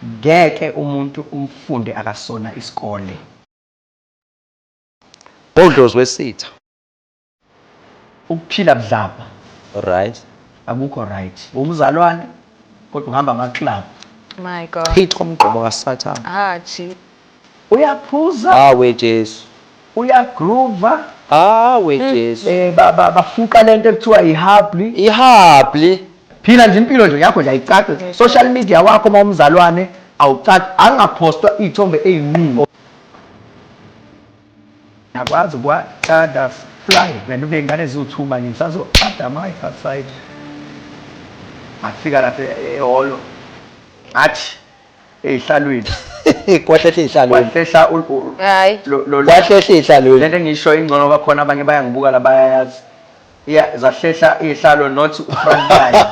Ngeke umuntu umfunde akasona isikole. Bhodlozi wesitha. Ukuphila budlabha. Right. Akukho right. Wumzalwane kodwa uhamba ama club. My God. Chitha umgqomo kasathane. Hatshi. Uyaphuza. Haa we Jesu. Uyagroova. Haa we Jesu. Eh ba ba bafuqa lento ekuthiwa ihabli. Ihabli. Phila nje impilo nje yakho nje ayicace. Social media wakho uma umzalwane awucaci angaphostwa iy'thombe ey'nqunu. Ngiyakwazi ukwaqada fly wena uney'ngane eziwu two manje ngisazoqada ama wife outside. Ngafika lapha ehholo ngathi. ey'hlalweni kwahlehla ey'hlalweni kwahlehla hayi kwahlehla ey'hlalweni lento engisho ingcono bakhona abanye bayangibuka la bayayazi ya zahlehla iy'hlalo not ufront line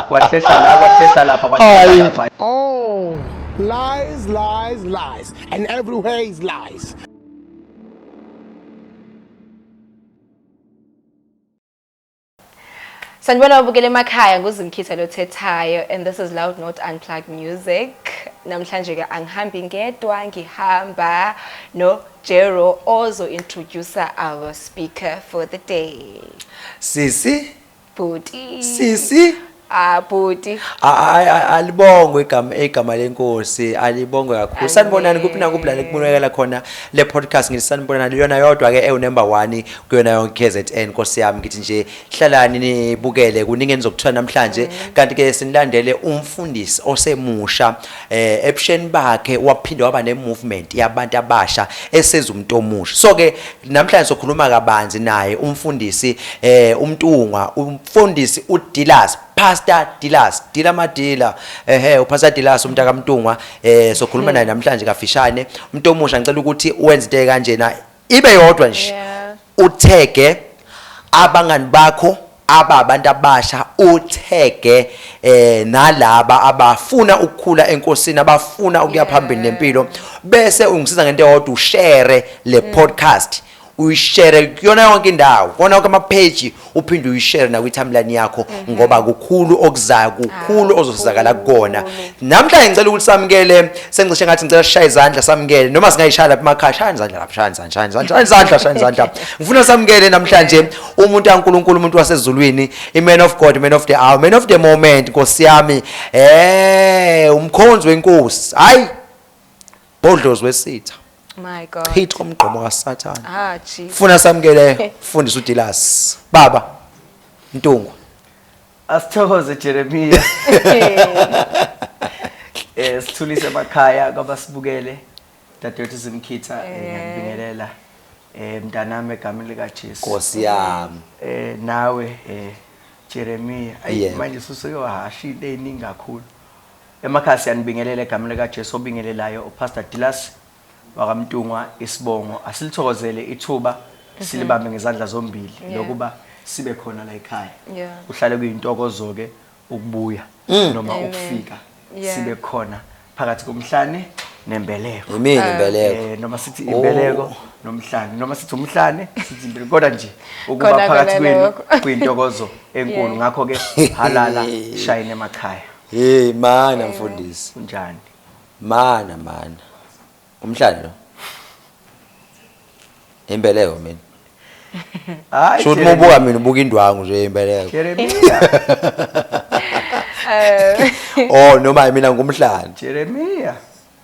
kwahlehla la kwahlehla lapha kwahlehla oh lies lies lies and everywhere is lies Sanibona ubukele emakhaya nguzimkhitha lothethayo and this is loud not unplugged music namhlanje ke angihambi ngedwa ngihamba no Jero ozo introduce our speaker for the day Sisi Bhuti Sisi Ah bhuti. A- a- a- alibongwe igama igama lenkosi alibongwe kakhulu sanibonani kuphi nakuphi la kubonakala khona le podcast ngithi sanibonani yona yodwa ke ewu number 1 kuyona yonke KZN nkosi yami ngithi nje hlalani nibukele kuningi enizokuthola namhlanje kanti ke sinilandele umfundisi osemusha eh ebusheni bakhe waphinde waba ne movement yabantu abasha esenza umuntu omusha so ke namhlanje sokhuluma kabanzi naye umfundisi eh umntungwa umfundisi uDilas Pastor Dilas Dila Madila ehe uPastor Dilas umuntu akamntungwa eh sokhuluma naye namhlanje kafishane umuntu omusha ngicela ukuthi Wednesday kanjena ibe yodwa nje Yeah. uthege abangani bakho aba abantu abasha uthege eh nalaba abafuna ukukhula enkosini abafuna ukuya phambili nempilo bese ungisiza ngento eyodwa ushare le podcast uyishare kuyona yonke indawo kona yonke ama page uphinde uyishare nakwi-timeline yakho mhm. ngoba kukhulu okuzayo kukhulu ah, ozosizakala kukona namhlanje ngicela ukuthi samukele sengicishe ngathi ngicela sishaye izandla samukele noma singayishaya lapha emakhaya shaya izandla lapha shaya izandla shaya izandla shaya izandla shaya izandla ngifuna samukele namhlanje umuntu kaNkulunkulu umuntu wasezulwini i-man of God man of the hour man of the moment nkosi yami eh umkhonzi wenkosi hayi bodlozi wesitha My God. Chitha umgqomo kaSathane. Ah, Jesus. Funa samukele fundisa uDilas. Baba Mntungwa. Asithokoze Jeremiah. Eh sithulise emakhaya kwabasibukele. Dadewethu Zimkhitha eh, ngiyakubingelela. Eh mntanami egameni lika Jesu. Nkosi yami. Eh nawe eh Jeremiah ayi manje suseke wahasha into eningi kakhulu. Emakhaya siyanibingelela egameni likaJesu obingelelayo uPastor Dilas wakaMtungwa isibongo asilithokozele ithuba silibambe ngezandla zombili Yeah. lokuba sibe khona la ekhaya Yeah. kuhlale kuyintokozo ke ukubuya noma Amen. ukufika Yeah. sibe khona phakathi komhlane nembeleko Yimini imbeleko. Eh, noma sithi Oh. imbeleko nomhlane noma sithi umhlane sithi imbeleko kodwa nje ukuba Khona phakathi kona kwenu lokho. kuyintokozo enkulu Yeah. ngakho ke halala shayine emakhaya Hey mana mfundisi. Unjani? Mana mana. Umhlanje lo. Imbeleko mina. Hayi. Shothi mubuka mina ubuka indwangu nje imbeleko. Jeremia. Eh. Oh noma mina ngumhlanje. Jeremia.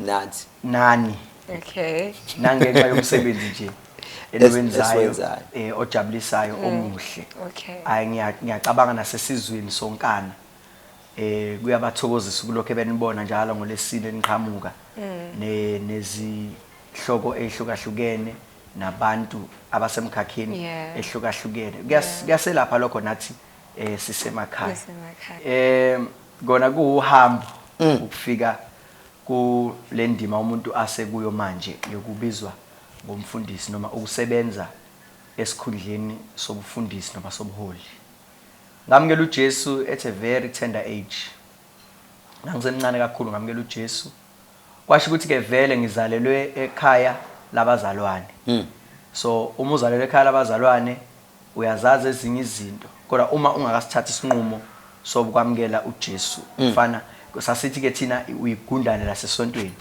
nathi nani okay nangenxa yomsebenzi nje eliwenzayo eh ojabulisayo mm. omuhle okay hayi ngiyacabanga nasesizweni sonkana eh kuyabathokozisa ukulokho benibona njalo ngolesine niqhamuka mm. ne nezihloko ehlukahlukene nabantu abasemkhakheni ehlukahlukene kuyaselapha lokho nathi eh sisemakhaya eh kona kuhambo mm. ukufika Kule ndima umuntu asekuyo manje yokubizwa ngomfundisi noma ukusebenza esikhundleni sobufundisi noma sobuholi. Ngamukela uJesu at a very tender age. Ngangisemncane kakhulu ngamukela uJesu. Kwasho ukuthi-ke vele ngizalelwe ekhaya labazalwane. So uma uzalelwe ekhaya labazalwane, Uyazazi ezinye izinto kodwa uma ungakasithathi isinqumo sobukwamukela uJesu mfana sasithi ke thina uyigundane lasesontweni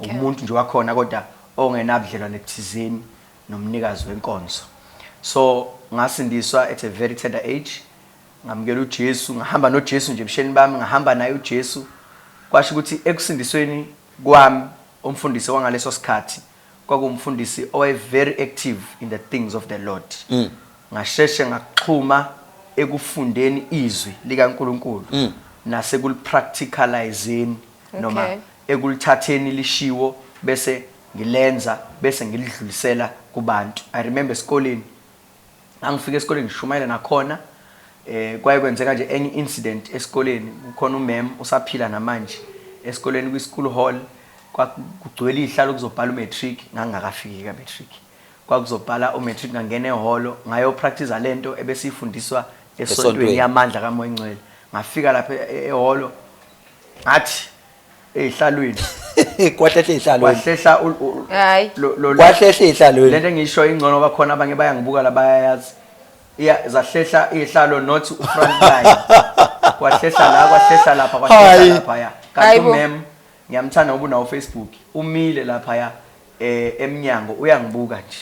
umuntu nje wakhona kodwa ongenabudlelwane buthizeni nomnikazi wenkonzo so ngasindiswa at a very tender age ngamukela uJesu ngahamba noJesu nje ebusheni bami ngahamba naye uJesu kwasho ukuthi ekusindisweni kwami umfundisi wangaleso sikhathi kwakuwumfundisi owaye very active in the things of the Lord ngasheshe ngaxhuma ekufundeni izwi likaNkulunkulu nasekulipracticaliseni noma Okay. ekulithatheni lishiwo bese ngilenza bese ngilidlulisela kubantu i remember esikoleni ngangifika esikoleni ngishumayela nakhona eh kwaye kwenzeka nje enye incident esikoleni kukhona umem usaphila namanje esikoleni kwi school hall kwakugcwele ihlalo kuzobhala umatric ngangakafiki ka matric kwakuzobhala umatric ngangena eholo ngayo practice lento ebesifundiswa esontweni yamandla kamoya ingcwele ngafika lapha e-, eholo ngathi eyihlalweni kwahlehla ihlalo wahlehla ul- ul- Hayi. lo- lo- kwahlehla ihlalo lento engisho ingcono ngoba khona abanye bayangibuka la bayayazi Iya- zahlehla ihlalo not front line kwahlehla la kwahlehla lapha Hayi. kwahlehla lapha ya kanti Hayi bo. umem ngiyamthanda ngoba unawo facebook umile lapha ya eh emnyango uyangibuka nje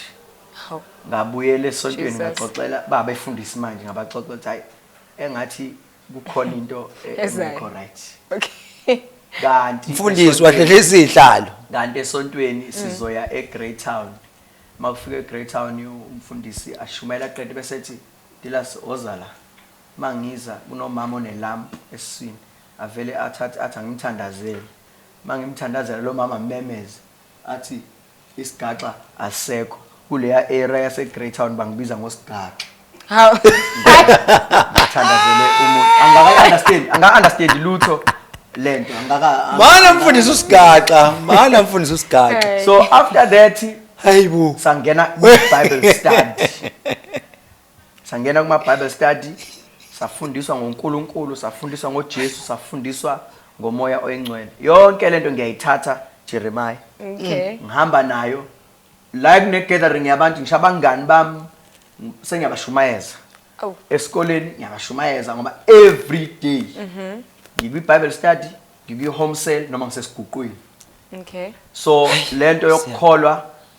Hawu. ngabuyela esontweni Jesus. ngaxoxela baba efundisi manje ngabaxoxa ukuthi hayi engathi kukhona into e- Ezayo. engekho right Okay. kanti mfundisi esontweni- wahlehlisa izihlalo kanti esontweni sizoya eGreytown uma kufika eGreytown umfundisi ashumayela qede bese ethi Dilas oza la uma ngiza kunomama onelampu esiswini avele athathe athi angimthandazele uma ngimthandazela lo mama mmemeze Athi isigaxa asisekho kuleya area yase Greytown bangibiza ngosigaxa. Hawu. Ngithandazele umuntu. Angaka understand, angaka understand lutho lento. Angaka Mana mfundisi usigaxa, mana mfundisi usigaxa. Hey. So after that Hayibo. sangena ku Bible study. Sangena kuma Bible study, safundiswa ngoNkulunkulu, safundiswa ngoJesu, safundiswa ngomoya oyingcwele. Yonke lento ngiyayithatha Jeremiah. Okay. Ngihamba nayo la kune gathering yabantu ngisho abangani bami ng- sengiyabashumayeza. Awu. Esikoleni ngiyabashumayeza ngoba every day ngikwi Bible study, ngikwi home cell noma ngisesiguqweni. Okay. So lento yokukholwa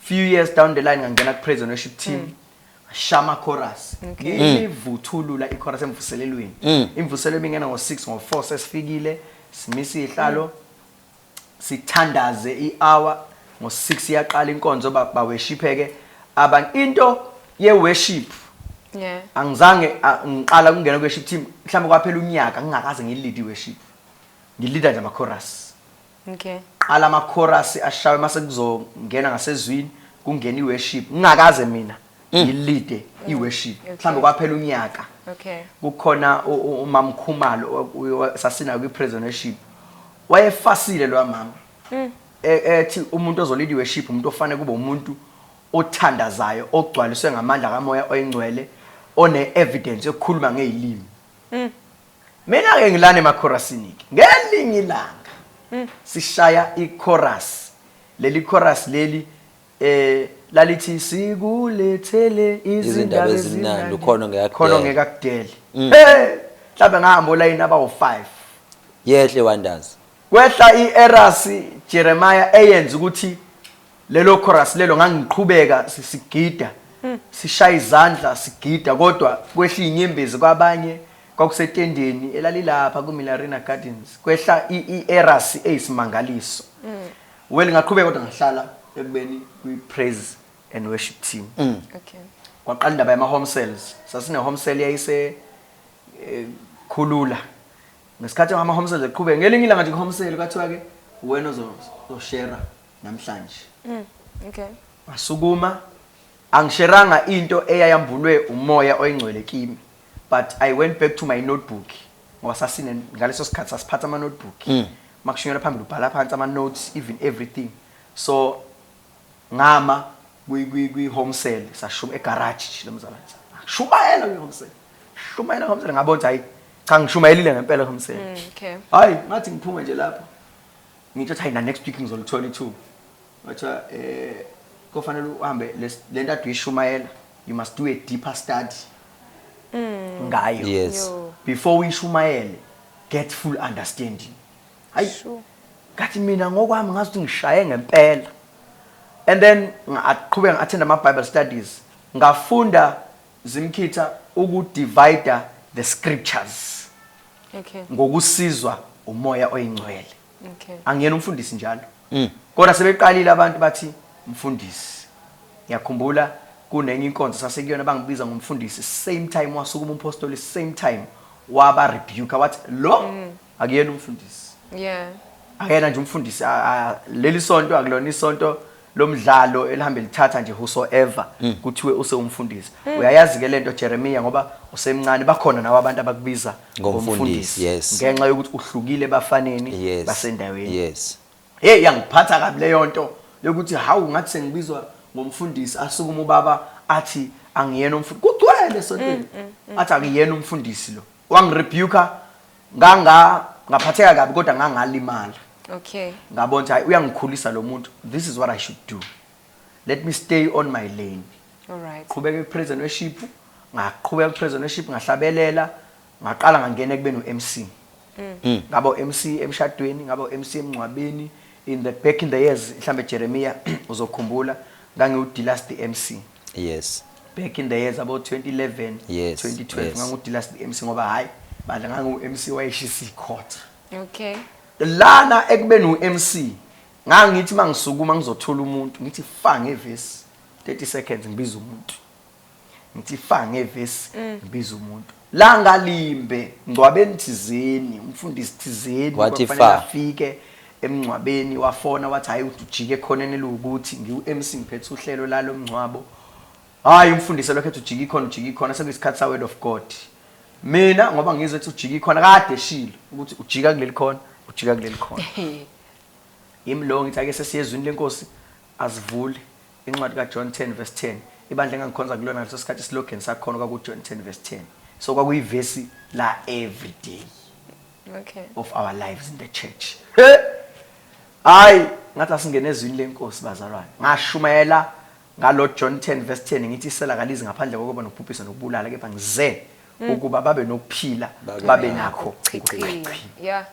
few years down the line ngangena ku praise and worship team mm. shama chorus ngivuthulula mm. ichorus emvuselelweni mm. imvuselelo bingena ngo 6 ngo 4 sesifikile simisa ihlalo mm. sithandaze i-hour ngo 6 iyaqala inkonzo baweshipheke abantu into ye worship yeah angizange ngiqala kungena ku worship team mhlawumbe kwaphela unyaka ngingakaze ngilidi worship ngilida nje ama chorus Okay. Qala ama chorus ashawe mase kuzongena ngasezwini kungena iworship. Ngingakaze mina mm. ngilide mm. iworship. Mhlambe kwaphela unyaka. Okay. Kukhona umamkhumalo sasina kwi prison worship. Wayefasile lo mama. Mm. E, ethi umuntu ozolida iworship umuntu ofanele kube umuntu othandazayo ogcwaliswe ngamandla kamoya oyingcwele one evidence yokukhuluma ngezilimi. Mm. Mina ke ngilana emachorasiniki. Ngelinye ilanga hmm. sishaya ichorus. Leli chorus leli eh lalithi sikulethele izindaba ezimnandi khona ngekakudele. Khona ngekakudele. Hmm. Hey, mhlawumbe ngahamba olayini abawu-5. Yehle wandazi. Kwehla i-erasi Jeremiah eyenza ukuthi Lelo chorus lelo ngangiqhubeka si- sigida sishaya izandla sigida kodwa kwehla inyembezi kwabanye kwakusetendeni elalilapha kuMillarina Gardens kwehla i- i-eras eyisimangaliso. Well ngaqhubeka kodwa ngahlala ekubeni kwi-praise and worship team. Okay. Kwaqala indaba yama home cells. Sasine home cell yayise eh, khulula. Ngesikhathi ama home cells eqhubeka ngelinye ilanga nje ku home cell kwathiwa ke wena ozo- ozoshera namhlanje. Mm. Okay. Wasukuma angisheranga into eyayambulwe umoya oyingcwele kimi but I went back to my notebook ngoba sasine ngaleso sikhathi sasiphatha ama notebook. Mm. Makushunyela phambili ubhala phansi ama notes even everything. So ngama kwi kwi kwi home cell sashuma egarage nje lomzalwane. Shumayela kwi home cell. Shumayela home cell ngabona hayi cha ngishumayelile ngempela home cell. Mm, okay. Hayi ngathi ngiphuma nje lapho. Ngithe hayi na next week ngizolithola ithuba. Wathiwa eh kofanele uhambe lento ade uyishumayela you must do a deeper study. Mm. Ngayo. Yes. Before uyishumayele get full understanding. Hayi. Sure. Kathi mina ngokwami ngazi ukuthi ngishaye ngempela. And then ngaqhubeka ngathenda ama Bible studies. Ngafunda Zimkhitha uku divider the scriptures Okay. ngokusizwa umoya oyingcwele. Okay. Angiyena umfundisi njalo. Kodwa sebeqalile abantu bathi mfundisi. Ngiyakhumbula kunenye inkonzo sasekuyona bangibiza ngomfundisi same time wasukuma umpostoli same time waba rebuke wathi lo akuyena umfundisi yeah akuyena nje umfundisi leli sonto akulona isonto lomdlalo elihambe lithatha nje whosoever hmm. kuthiwe usewumfundisi hmm. uyayazi ke lento Jeremiah ngoba usemncane bakhona nawo abantu abakubiza ngomfundisi ngenxa yokuthi uhlukile bafaneni basendaweni yes hey yangiphatha kabi leyo nto yokuthi hawu ngathi sengibizwa ngomfundisi asukuma ubaba athi angiyena umfundisi kugcwele sontweni mm, mm, mm. athi akuyena umfundisi lo wangirebuka nganga ngaphatheka kabi kodwa ngangalimala okay ngabona ukuthi hayi uyangikhulisa lo muntu this is what i should do let me stay on my lane alright qhubeka kuprison worship ngaqhubeka kuprison worship ngahlabelela ngaqala ngangena ekubeni uMC mm. ngaba uMC emshadweni ngaba uMC emncwabeni in the back in the years mhlambe Jeremiah uzokhumbula ngangiwudilast MC yes back in the years abo 2011 yes, 2012 yes. ngangudila MC ngoba hayi bandla ngangu MC wayeshisa icourt okay lana ekubeni u MC ngangithi mangisukuma ngizothola umuntu ngithi fa ngevesi 30 seconds ngibiza umuntu ngithi fa ngevesi mm. ngibiza umuntu Langa limbe ngcwabeni thizeni umfundisi thizeni Wathi kwakufanele fa. afike emngcwabeni wafona wathi hayi uthi ujike ekhoneni eliwukuthi ngiwu-MC ngiphethe uhlelo lalo mngcwabo hayi umfundisi elokhu ethi ujike ikhona ujike ikhona sekuyisikhathi sa-word of god mina ngoba ngizwe ethi ujike ikhona kade eshilo ukuthi ujika kuleli khona ujika kuleli khona yimi lowo ngithi ake sesiye ezwini lenkosi Asivule Incwadi kaJohn 10 vs 10, Ibandla engangikhonza kulona ngaleso sikhathi isilogeni sakhona okwakuJohn 10 vs 10. So kwakuyivesi la every day Okay. of our lives in the church. He! Hayi, ngathi asingene ezwini lenkosi bazalwane. Ngashumayela ngalo John 10 verse 10 ngithi isela kalizi ngaphandle kokuba nokubhubhisa nokubulala kepha ngize ukuba babe nokuphila babe nakho. Chichi. Yeah.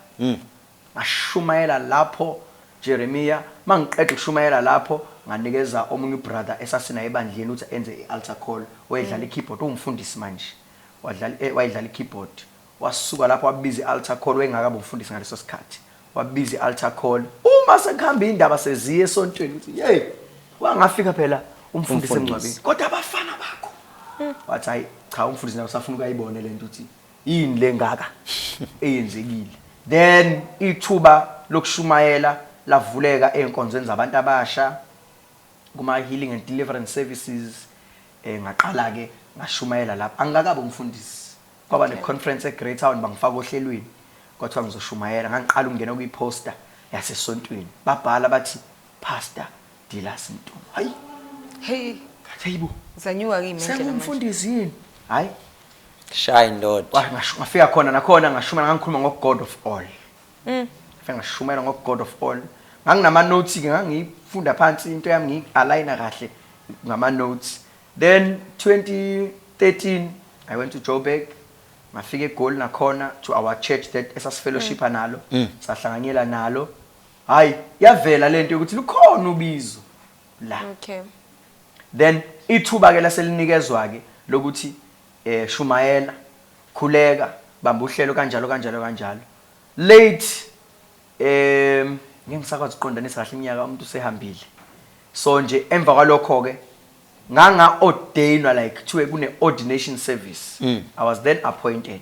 Ngashumayela lapho, Jeremiya. Uma ngiqeda ukushumayela lapho, nganikeza omunye ubrother esasinaye ebandleni ukuthi enze i-altar call. Wayedlala i-keyboard. Uwumfundisi manje. Wadlala, e, wayedlala i-keyboard. Wasuka lapho wabiza i-altar call. Wayengakabi umfundisi ngaleso sikhathi. Wabiza i-altar call. Uma sekuhamba iy'ndaba seziya esontweni, ukuthi, Yeyi! Wangafika phela umfundisi emngcwabeni. Umfundisi. Kodwa abafana bakho! Wathi, Hhayi, cha, umfundisi naye usafuna ukuyibone le nto ukuthi yini lengaka eyenzekile then ithuba lokushumayela lavuleka ezinkonzweni zabantu abasha kuma healing and deliverance services eh ngaqala ke ngashumayela lapha angikakabe umfundisi kwaba ne conference eGreytown bangifaka ohlelweni kwathiwa ngizoshumayela ngangiqala ukungena kuyiposter yasesontweni babhala bathi pastor Dilasi Ntungu. Hayi. Hey. Hayibo. Zanyuka kimi indlela. Sengumfundisi yini? Hayi. Shaya indoda. Wafika khona nakhona ngashuma ngangikhuluma ngo God of all. Mm. Ngafika ngashumayela ngo God of all. Nganginama notes ke ngangifunda phansi into yami ngi aligner kahle ngama notes. Then 2013 I went to Joburg ngafika eGoli nakhona to our church that esasifellowshipa mm. nalo mm. sahlanganyela nalo Hayi, yavela lento yokuthi lukhona ubizo la. Okay. Then ithuba ke laselinikezwa ke lokuthi eh shumayela, khuleka, bamba uhlelo kanjalo kanjalo kanjalo. Late em ngeke ngisakwazi ukuqondanisa kahle iminyaka umuntu usehambile. So nje emva kwalokho ke nganga ordainwa like kuthiwe kune ordination service. I was then appointed.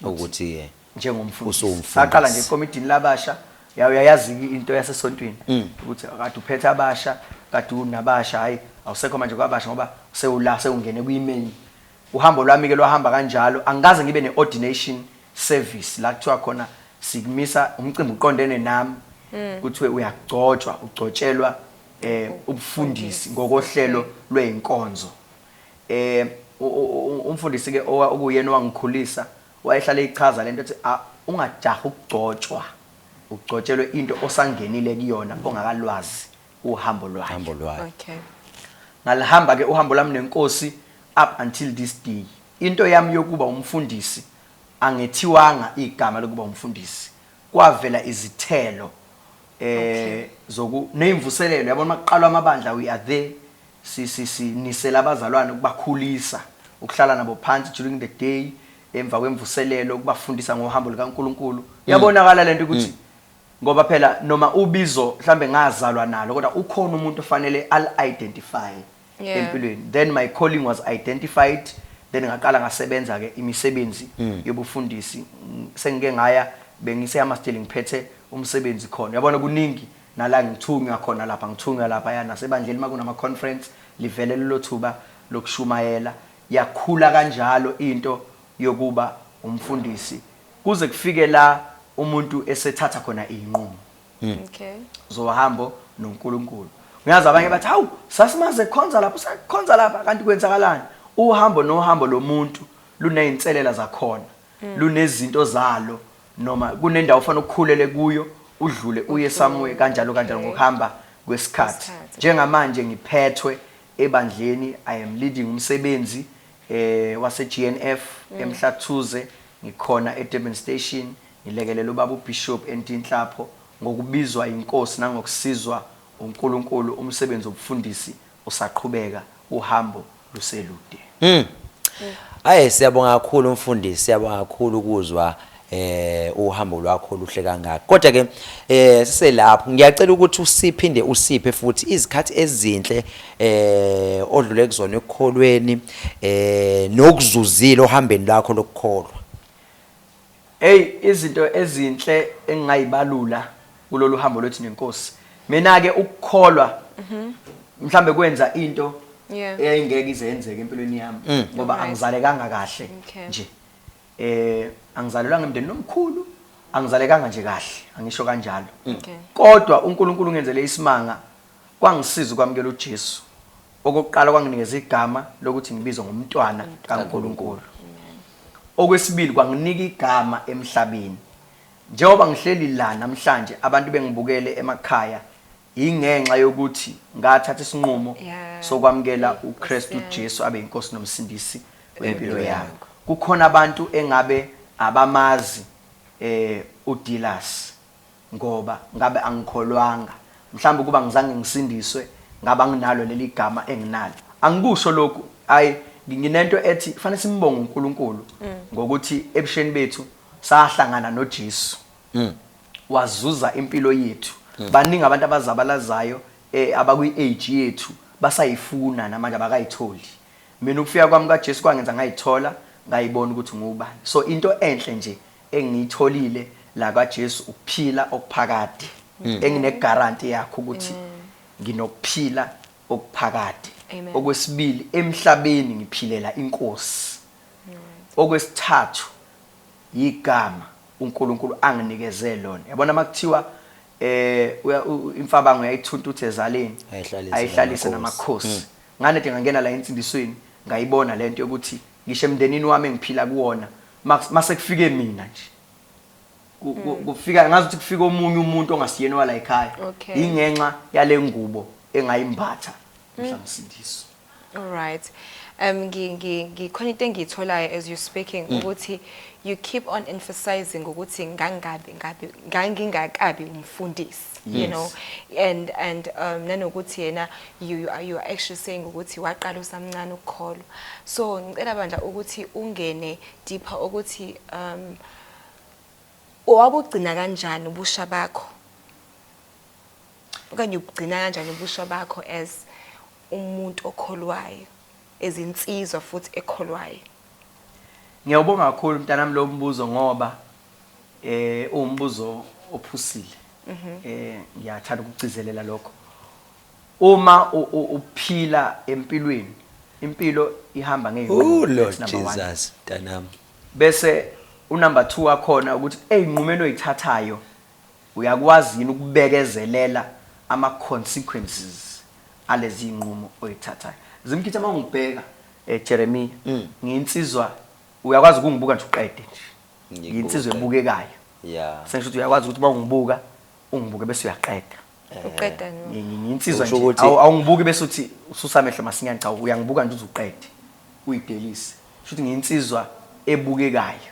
ukuthi eh, njengomfundisi usumfundisi. saqala nje ekomidini labasha ya- uyayazi i- into yasesontweni Mm. ukuthi kade uphethe abasha kade unabasha hhayi awusekho manje kwabasha ngoba sewula sewungene kwi-main uhambo lwami-ke lwahamba kanjalo angikaze ngibe ne-ordination service la kuthiwa khona sikumisa umcimbi uqondene nami Mm. kuthiwe uyagcotshwa ugcotshelwa um ubufundisi ngokohlelo lwey'nkonzo Eeh umfundisi ke okuyena owangikhulisa wayehlale eyichaza lento ethi ungajahi ukugcotshwa ugcotshelwe into osangenile kuyona ongakalwazi uhambo lwayo. Uhambo lwayo. Okay. Ngalihamba ke uhambo lami nenkosi up until this day. Into yami yokuba umfundisi angethiwanga igama lokuba umfundisi. Kwavela izithelo eh zoku nezimvuselelo yabona makuqalwa amabandla we are there Si, si, sinisela abazalwane ukubakhulisa, ukuhlala nabo phansi during the day, emva kwemvuselelo, ukubafundisa ngohambo lukaNkulunkulu. Iyabonakala lento ukuthi ngoba phela noma ubizo mhlambe ngazalwa nalo kodwa ukhona umuntu ofanele al identify Yeah. empilweni. Then my calling was identified, then ngaqala ngasebenza ke imisebenzi yobufundisi. Mm, Sengike ngaya bengiseyama still ngiphethe umsebenzi khona. Yabona kuningi Nala ngithunywa khona lapha ngithunywa laphaya nasebandleni uma kunama conference livele lelo thuba lokushumayela. Yakhula kanjalo into yokuba umfundisi kuze kufike la umuntu esethatha khona izinqumo zohambo noNkulunkulu. Ngiyazi abanye bathi, Hawu, sasimazi ekhonza lapha, usekhonza lapha. Kanti kwenzakalani? Uhambo nohambo lomuntu lunezinselela zakhona. lunezinto zalo noma kunendawo ofanele ukhulele kuyo udlule uye somewhere kanjalo kanjalo ngokuhamba kwesikhathi njengamanje ngiphethwe ebandleni i am leading umsebenzi eh wase GNF mm. emhlathuze ngikhona eDurban Station ngilekelela ubaba uBishop entinhlapho ngokubizwa inkosi nangokusizwa uNkulunkulu umsebenzi wobufundisi Usaqhubeka uhambo luselude. Ayi siyabonga kakhulu mfundisi siyabonga kakhulu ukuzwa eh uhambo lwakho luhle kangaka kodwa ke eh siselapho ngiyacela ukuthi usiphinde usiphe futhi izikhathi ezinhle eh odlule kuzona ekukholweni eh nokuzuzile ohambeni lakho lokukholwa Ey izinto ezinhle engingayibalula kulolu hambo lwethu nenkosi. Mina ke ukukholwa mhlambe kwenza into Yeah. eyayingeke ize yenzeke empilweni yami Mm. ngoba Alright. angizalekanga kahle Okay. nje. Eh angizalelwanga emndenini omkhulu, angizalekanga nje kahle, angisho kanjalo. Okay. Kodwa uNkulunkulu ungenzele isimanga Kwangisiza ukwamukela uJesu. Okokuqala, kwanginikeza igama lokuthi ngibizwe ngomntwana kaNkulunkulu. Okwesibili, kwanginika igama emhlabeni. Njengoba ngihleli la namhlanje abantu bengibukele emakhaya yingenxa yokuthi ngathatha isinqumo sokwamukela uKristu Jesu abe inkosi nomsindisi wempilo yami. Kukhona abantu engabe abamazi eh uDillas. Ngoba ngabe angikholwanga, mhlawumbe ukuba angizange ngisindiswe, ngabe anginalo leli gama enginalo. Angikusho lokhu, hhayi, ngi, nginento ethi kufanele simbonge uNkulunkulu ngokuthi ebusheni bethu sahlangana noJesu, wazuza impilo yethu. Baningi abantu abazabalazayo e, abakwi-age yethu, basayifuna namanje, abakayitholi. Mina ukufika kwami kaJesu kwangenza ngayithola, ngayibona ukuthi nguwubani. So, into enhle nje. engiyitholile la kwaJesu ukuphila okuphakade engine guarantee yakho ukuthi nginokuphila okuphakade Amen. okwesibili emhlabeni ngiphilela inkosi okwesithathu yigama uNkulunkulu anginikeze lona yabona makuthiwa eh uya- u- u- imfabango uyayithuntutha ezaleni Ayihlalise ayihlalise namakhosi. namakhosi ngane de ngangena la ensindisweni ngayibona lento yokuthi Ngisho emndenini wami engiphila kuwona mase kufike mina nje mm. kufika ngazi ukuthi kufika omunye umuntu ongasiyena wala ekhaya yingenxa yale ngubo engayimbatha mm. mhlamsindiso alright um ngikhona into engiyitholayo as you speaking mm. ukuthi you keep on emphasizing ukuthi ngangabi ngabi ngangingakabi umfundisi you know and and um nanokuthi yena You, you, are, you are actually saying ukuthi waqala usamncane ukukholwa so ngicela bandla ukuthi ungene deeper ukuthi um owabugcina kanjani ubusha bakho okanye ubugcina kanjani ubusha bakho as umuntu okholwayo ezinsizwa futhi ekholwayo ngiyawubonga kakhulu mntanami lo mbuzo ngoba eh uwumbuzo ophusile mhm. eh ngiyathanda ukugcizelela lokho Uma uphila empilweni impilo ihamba ngeyinqumo. Ooh Lord Jesus mntanami. Bese u number 2 wakhona ukuthi ezinqumeni oyithathayo uyakwazi yini ukubekezelela ama consequences alezi zinqumo oyithathayo. Zimkhitha uma ungibheka eh Jeremia mm. ngiyinsizwa uyakwazi ukungibuka nje uqede nje. Ngiyinsizwa ebukekayo. Yeah. Sengisho ukuthi uyakwazi ukuthi uma ungibuka ungibuke bese uyaqeda. uqeda nje Ngi- ngi- nginsizwa Usho nje ukuthi- Awu- awungibuki bese uthi ususa amehlo masinyane cha uyangibuka nje uze uqede uyidelise shuthi nginsizwa ebukekayo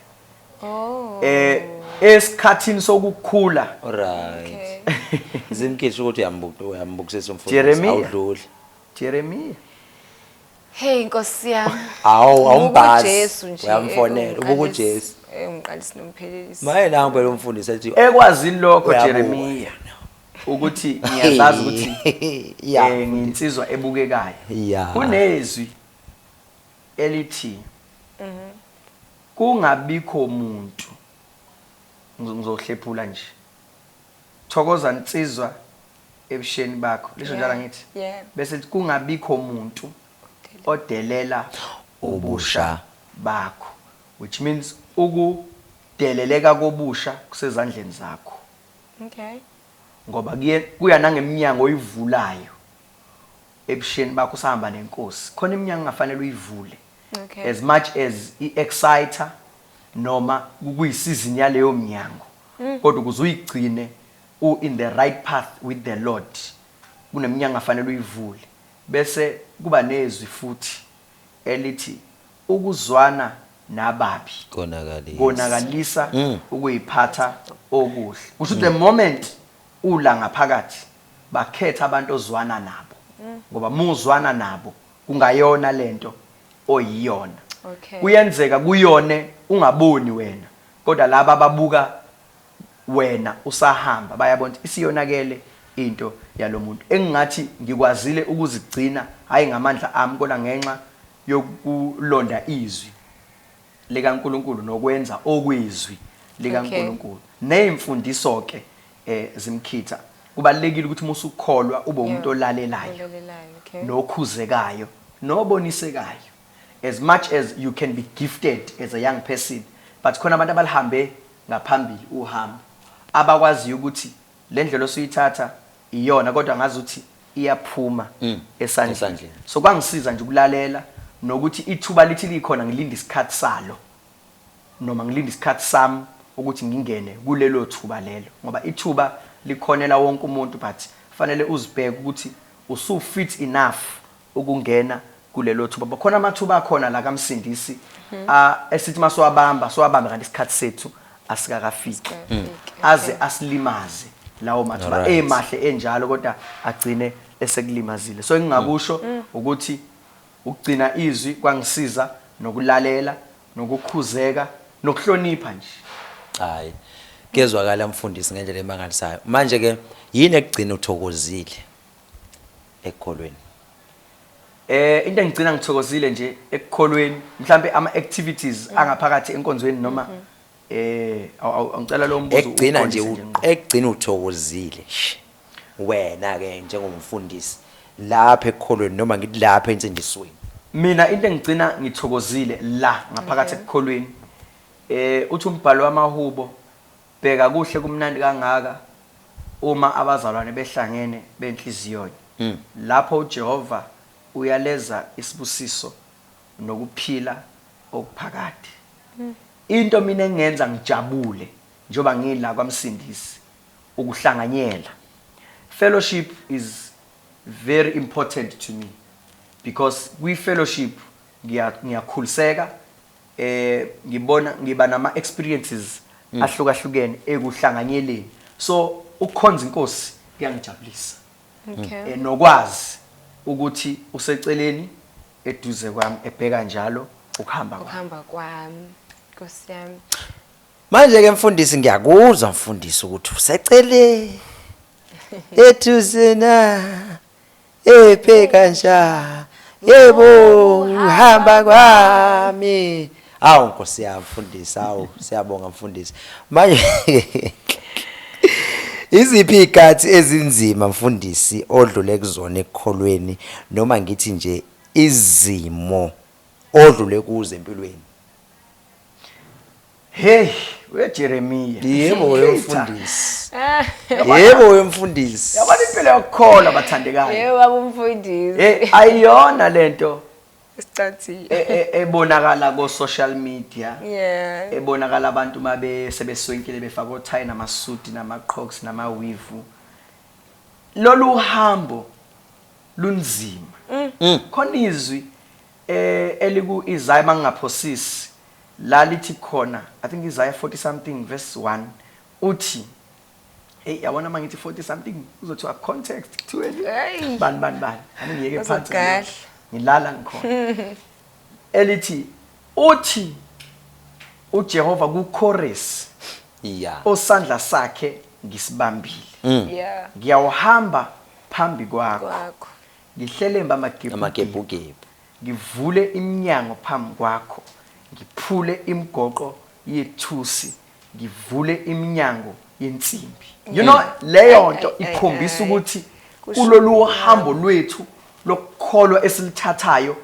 oh eh esikhathini sokukhula Alright. Zimkisho ukuthi uyambuka uyambukisisa umfundisi Jeremiya. awudluli. Jeremiya Hey Nkosi yami. Hawu awumbazi. Jesu nje. Uyamfonela ubuku Jesu. Eh umqalisi nomphelelisi. Maye nangu phela umfundisi ethi ekwazini lokho Jeremiya ukuthi ngiyazazi ukuthi eh nginsizwa ebukekayo. Kunezwi elithi mhm. kungabikho muntu ngizohlephula nje. Thokoza nsizwa ebusheni bakho lisho njalo angithi bese kungabikho muntu odelela ubusha bakho which means ukudeleleka kobusha kusezandleni zakho okay ngoba kuye kuya nangemnyango oyivulayo ebusheni bakho sahamba nenkosi khona iminyango engafanele uyivule okay as much as iexciter noma kuyisizini yaleyo mnyango kodwa ukuze uyigcine u in the right path with the Lord kuneminyango afanele uyivule bese kuba nezwi futhi elithi ukuzwana nababi konakalisa konakalisa mm. ukuyiphatha okuhle kusho mm. the moment ula ngaphakathi bakhetha abantu ozwana nabo mm. ngoba muzwana nabo kungayona lento oyiyona okay. kuyenzeka kuyone ungaboni wena Kodwa laba ababuka Wena usahamba bayabona ukuthi isiyonakele into yalomuntu engingathi ngikwazile ukuzigcina hhayi ngamandla ami kodwa ngenxa yokulonda izwi likaNkulunkulu nokwenza okwezwi likaNkulunkulu ney'mfundiso ke zimkhitha kubalulekile ukuthi musukholwa ube umuntu olalelayo nokhuzekayo nobonisekayo. As much as you can be gifted as a young person but khona abantu abalihambe ngaphambili uhambo abakwaziyo ukuthi lendlela osuyithatha iyona kodwa ngazuthi iyaphuma mm, esandleni so kwangisiza nje ukulalela nokuthi ithuba lithi likhona ngilinda isikhathi salo noma ngilinda isikhathi sami ukuthi ngingene kulelo thuba lelo ngoba ithuba likhonela wonke umuntu but fanele uzibheke ukuthi usufit enough ukungena kulelothuba ngoba khona amathuba akhona la kaMsindisi a esithi masiwabamba siwabambe kanti isikhathi sethu asikakafiki aze asilimaze lawo mathuba Alright. emahle enjalo kodwa agcine esekulimazile so engingakusho ukuthi ukugcina izwi kwangisiza nokulalela nokukhuzeka nokuhlonipha nje Hayi. Kezwakala mfundisi ngendlela emangalisayo. Manje ke yini ekugcina uthokozile? ekukholweni. Eh into engigcina ngithokozile nje ekukholweni mhlambe ama activities mm. angaphakathi enkonzweni noma mm -hmm. eh awucela lo mbuzo ekugcina nje ekugcina uthokozile wena ke njengomfundisi lapha ekukholweni noma ngithi lapha ensindisweni mina into engigcina ngithokozile la ngaphakathi ekukholweni eh uthi umbhalo wamahubo Bheka kuhle kumnandi kangaka uma abazalwane behlangene benhliziyonye. Lapho uJehova uyaleza isibusiso nokuphila okuphakade. Into mina engenza ngijabule njengoba ngila kwaMsindisi ukuhlanganyela. Fellowship is very important to me because kwi fellowship ngiyakhuliseka. Ngibona ngiba nama experiences ahlukahlukene ekuhlanganyeleni so ukukhonza iNkosi kuyangijabulisa nokwazi ukuthi useceleni eduze kwami ebheka njalo ukuhamba kwami. Manje ke mfundisi ngiyakuzwa mfundisi ukuthi useceleni eduze na. ebheka nja yebo ngihamba kwami awu nkosi yami mfundisi awu siyabonga mfundisi manje Iziphi ikathi ezinzima mfundisi odlule kuzona ekukholweni noma ngithi nje izimo odlule kuzo empilweni? Hey, uyaJeremiya. Yebo wemfundisi. Yebo wemfundisi. Yabona impilo yokukholwa bathandekayo. Yebo babumfundisi. Hey, ayiyona lento. Isicathile. E, e, ebonakala ko social media. Yeah. Ebonakala abantu mabe sebeswenkile befaka othayi namasuti namaqhoks namawivu. Lolu hambo lunzima. Mm. Khona izwi E eliku Isaya mangingaphosisi la lithi khona I think Isaya 40 something verse 1 uthi Hey yabona mangithi 40 something uzothiwa context kuthiweni bani bani bani angiyeke phansi ngilala ngikhona elithi uthi uJehova kuChorus yeah osandla sakhe ngisibambile mm. yeah ngiyawuhamba phambi kwakho Ngihlelembe amagebhugebhu. Amagebhugebhu. Ngivule iminyango phambi kwakho, ngiphule imigoqo yethusi, ngivule iminyango yensimbi. You know leyo nto ikhombisa ukuthi kulolu hambo lwethu lokukholwa esilithathayo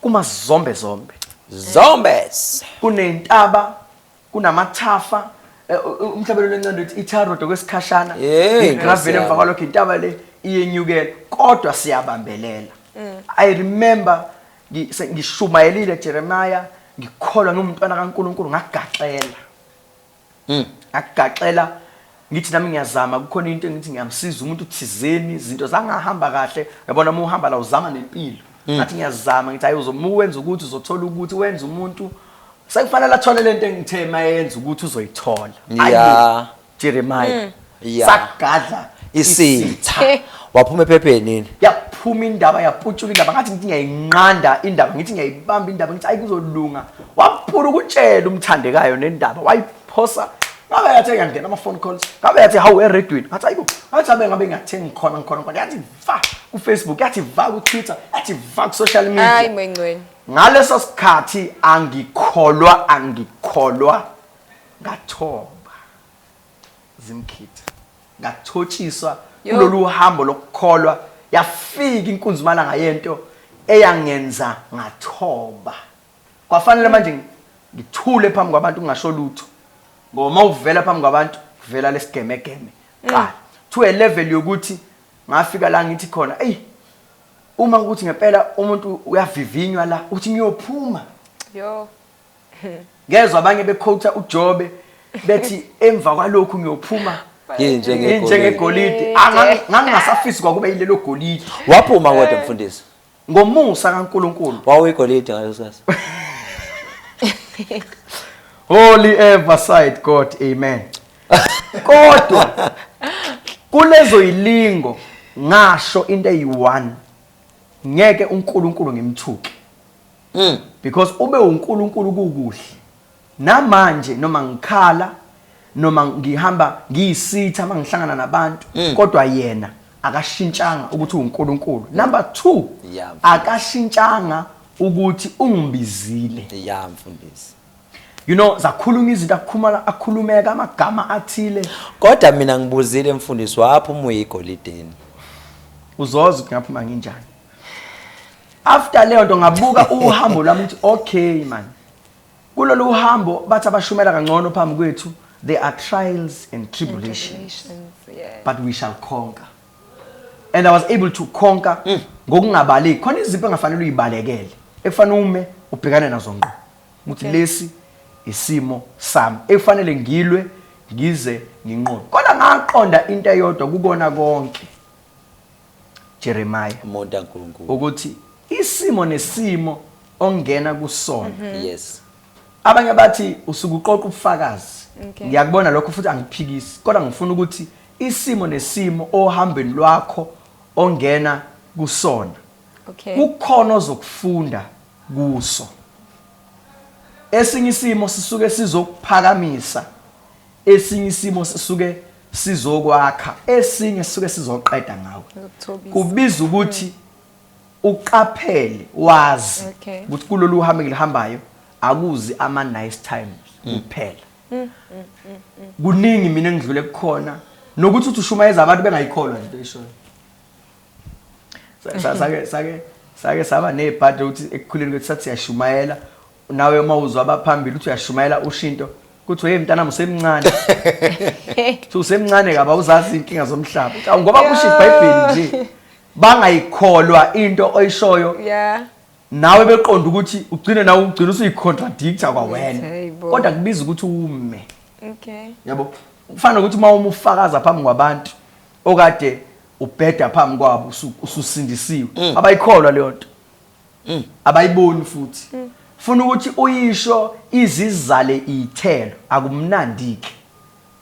kuma zombe zombe. Zombes. Kunentaba kunamathafa eh, u- umhlabelo lencane uthi itharodo kwesikhashana Yey, igravele Nkosi emva yami. kwalokho intaba le iyenyukela kodwa siyabambelela i remember ngi- se- ngishumayelile jeremiya ngikholwa ngimntwana kankulunkulu ngagaxela Mm. ngagaxela ngithi nami ngiyazama kukhona into engithi ngiyamsiza umuntu thizeni izinto zangahamba kahle yabona uma uhamba la uzama nempilo mm. ngathi ngiyazama ngithi hayi uzomuka wenza ukuthi uzothola ukuthi wenza umuntu sekufanele athole lento engithe mayenza ukuthi uzoyithola yeah Jeremiah mm. yeah. sagadla isitha waphuma ephepheni yini yaphuma indaba yaputshula indaba ngathi ngithi ngiyayinqanda indaba ngithi ngiyayibamba indaba ngithi ayikuzolunga waphula ukutshela umthandekayo nendaba wayiphula phosa ngabe yathi ngiyangena ama phone calls ngabe yathi how we read win ngathi ayibo ngathi abe ngabe ngiyathenga khona ngikhona kodwa yathi va ku Facebook yathi va ku Twitter yathi va ku social media hayi mengcweni ngaleso sikhathi angikholwa angikholwa ngathoba zimkhitha ngathotshiswa kulolu hambo lokukholwa yafika inkunzimana ngayento eyangenza ngathoba kwafanele manje ngi- ngithule phambi kwabantu ngingasho lutho ngoba uma uvela phambi kwabantu kuvela lesigemegeme qala to a level yokuthi ngafika la ngithi khona eyi uma ukuthi ngempela umuntu uyavivinywa la uthi ngiyophuma Yo. ngezwa abanye bekhotha ujobe bethi emva kwalokhu ngiyophuma Yinje ngegolide. njengegolide Yinje. ngangingasafisi kwakuba yilelo golide Waphuma kodwa mfundisi. Ngomusa kaNkulunkulu. Wawuyigolide ngaleso sikhathi. Holy ever side God. Amen. Kodwa kulezo yilingo ngasho into eyi-1 ngeke uNkulunkulu ngimthuke. Mm. Because ube uNkulunkulu kukuhle. Namanje noma ngikhala noma ngihamba ngiyisitha mangihlangana nabantu mm. kodwa yena akashintshanga ukuthi uNkulunkulu. Number 2 yeah, akashintshanga ukuthi ungibizile. Yeah mfundisi. You know zakhuluma izinto akhuluma akhulumeka amagama athile. Kodwa mina ngibuzile mfundisi wapha umuyi igolideni. Uzoza ukuthi ngaphuma nginjani. After leyo nto ngabuka uhambo lwami ukuthi okay man. Kulolu hambo bathi abashumela kangcono phambi kwethu there are trials and tribulations yeah. but we shall conquer and I was able to conquer mm. ngokungabaleki khona izipho engafanele uyibalekele ekufanele ume ubhekane nazo ngqo ukuthi okay. lesi isimo sami ekufanele ngilwe ngize nginqobe kodwa ngaqonda into eyodwa kukona konke Jeremiah umuntu kaNkulunkulu ukuthi isimo nesimo ongena kusona mhm. yes abanye bathi usuke uqoqa ubufakazi ngiyakubona lokho futhi angiphikisi kodwa ngifuna ukuthi isimo nesimo ohambeni lwakho ongena kusona okay kukhona ozokufunda kuso esinye isimo sisuke sizokuphakamisa esinye isimo sisuke sizokwakha esinye sisuke sizoqeda ngawe kubiza ukuthi mm. uqaphele wazi ukuthi kulolu uhambe ngilihambayo akuzi ama nice times mm. kuphela mm, kuningi mina engidlule kukhona nokuthi uthi ushumayeza abantu bengayikholwa into ishoyo sake sake sake saba nebhadi ukuthi ekukhuleni kwethu sathi siyashumayela nawe uma uzwa abaphambili uthi uyashumayela ushinto kuthi hey mntanami usemncane uthi usemncane kaba uzazi inkinga zomhlaba Uthi, "Awu, ngoba kusho ibhayibheli nje bangayikholwa into oyishoyo yeah nawe beqonda ukuthi ugcine nawe ugcina usuyicontradict-a kwawena Hey, bo. kodwa kubiza ukuthi ume okay yabo kufana nokuthi uma uma ufakaza phambi kwabantu okade ubheda phambi kwabo usu- ususindisiwe abayikholwa leyo nto Mm. Abayiboni futhi. Mm. Funa ukuthi uyisho izizale ithelo akumnandike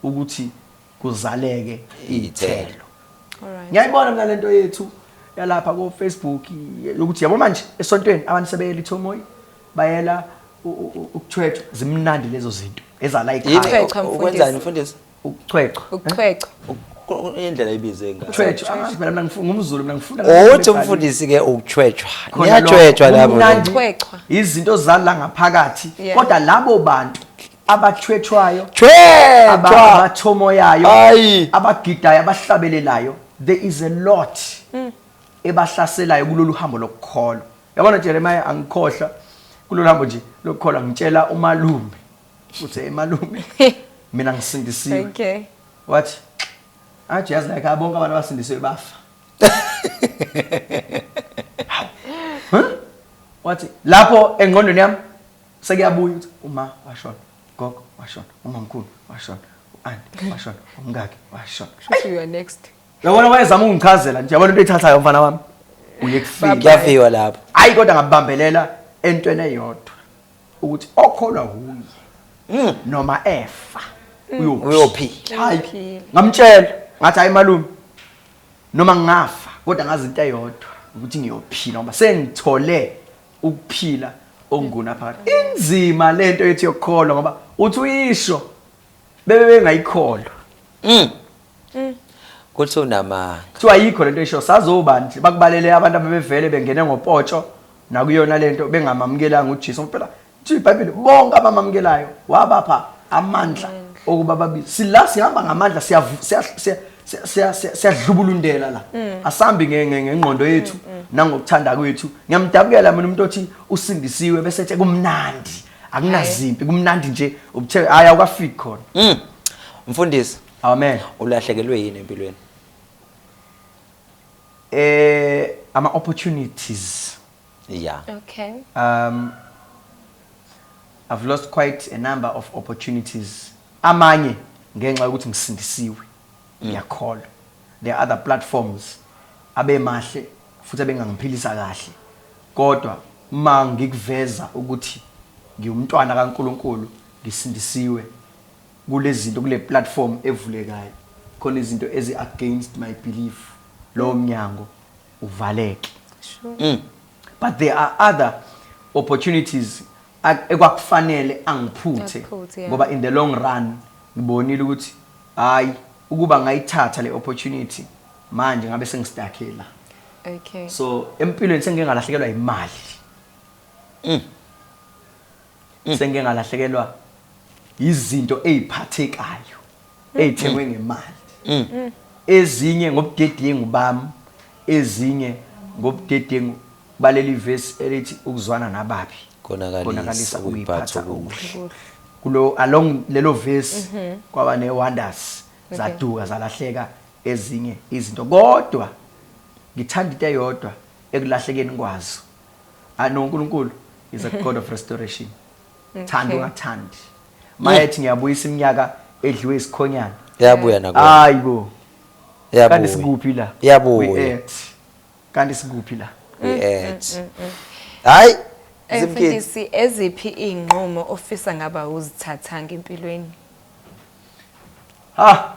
ukuthi kuzaleke ithelo. Alright. Ngiyayibona mina lento yethu yalapha ko Facebook yokuthi yabo manje esontweni abantu sebeyela ithomoyi bayela ukuthwethwa zimnandi lezo zinto ezala ikhaya. Ukwenzani mfundisi? ukuchwechwa ukuchwechwa indlela ibize ngayo chwechwa ah, phela mina ngifuna ngumzulu mina ngifuna othi umfundisi ke ukuchwechwa niyachwechwa labo chwechwa izinto zala ngaphakathi kodwa labo bantu abachwechwayo abathomoyayo abagidayo abahlabelelayo there is a lot mm. ebahlaselayo kulolu hambo lokukholwa yabona Jeremiah angikhohlwa kulolu hambo nje lokukholwa ngitshela umalume Uthi hey malume mina ngisindisiwe. Okay. Wathi athi yazi like abonke abantu abasindisiwe bafa. Huh? Wathi lapho engqondweni yami sekuyabuya ukuthi uma washona, gogo washona, umamkhulu washona, u-anti washona, umkakhe washona. Shuthi you are next. Yabona wayezama ukungichazela nje yabona into ethathayo mfana wami. Uye kufika. Kuyafiwa lapho. Hayi kodwa ngabambelela entweni eyodwa. ukuthi okholwa kuye noma efa uyophila uyophila hayi Uyophila. ngamtshela ngathi hayi malume noma ngingafa kodwa ngazi into eyodwa ukuthi ngiyophila ngoba sengithole ukuphila okunguna phakathi inzima lento ethi yokukholwa ngoba uthi uyisho bebe bengayikholwa mm. mm. kuthi unamanga kuthiwa ayikho lento esho sazobani nje bakubalele abantu abebevele bengene ngopotsho nakuyona lento bengamamukelanga uJesu ngempela nje iBhayibheli bonke abamamukelayo wabapha amandla okuba babi sila sihamba ngamandla siya siyadlubulundela la mm. asambi ngengqondo yethu mm, mm. nangokuthanda kwethu ngiyamdabukela mina umuntu othi usindisiwe bese ethi kumnandi akunazimpi kumnandi nje ubuthe hayi awukafiki khona mm. mfundisi amen ulahlekelwe yini empilweni eh ama opportunities yeah okay um i've lost quite a number of opportunities amanye ngenxa yokuthi ngisindisiwe mm. ngiyakholwa there are other platforms abemahle futhi abengangiphilisa kahle kodwa uma ngikuveza ukuthi ngiwumntwana kaNkulunkulu ngisindisiwe kulezinto kule platform evulekayo khona izinto ezi against my belief lowo mnyango uvaleke sure. mm. but there are other opportunities ekwakufanele angiphuthe ngoba in the long run ngibonile ukuthi hayi ukuba ngayithatha le opportunity manje ngabe sengistucke la okay so empilweni sengike ngalahlekelwa imali mm. mm. sengike ngalahlekelwa izinto eziphathekayo mm. ezithengwe ngemali mm. mm. ezinye ngobudedengu bami ezinye ngobudedengu baleli verse elithi ukuzwana nababi konakalisa ukuyiphatha okuhle kulo along lelo verse mhm. kwaba ne wonders zaduka zalahleka ezinye izinto kodwa ngithanda into eyodwa ekulahlekeni kwazo I know uNkulunkulu is a God of restoration thanda ungathandi mayethi ngiyabuyisa iminyaka edliwe isikhonyana yabuya nakuwe hayi bo yabuya kanti sikuphi la yabuya kanti sikuphi la we at mm, mm, mm, hayi eh, zimfundisi eziphi inqumo ofisa ngaba uzithathanga empilweni ha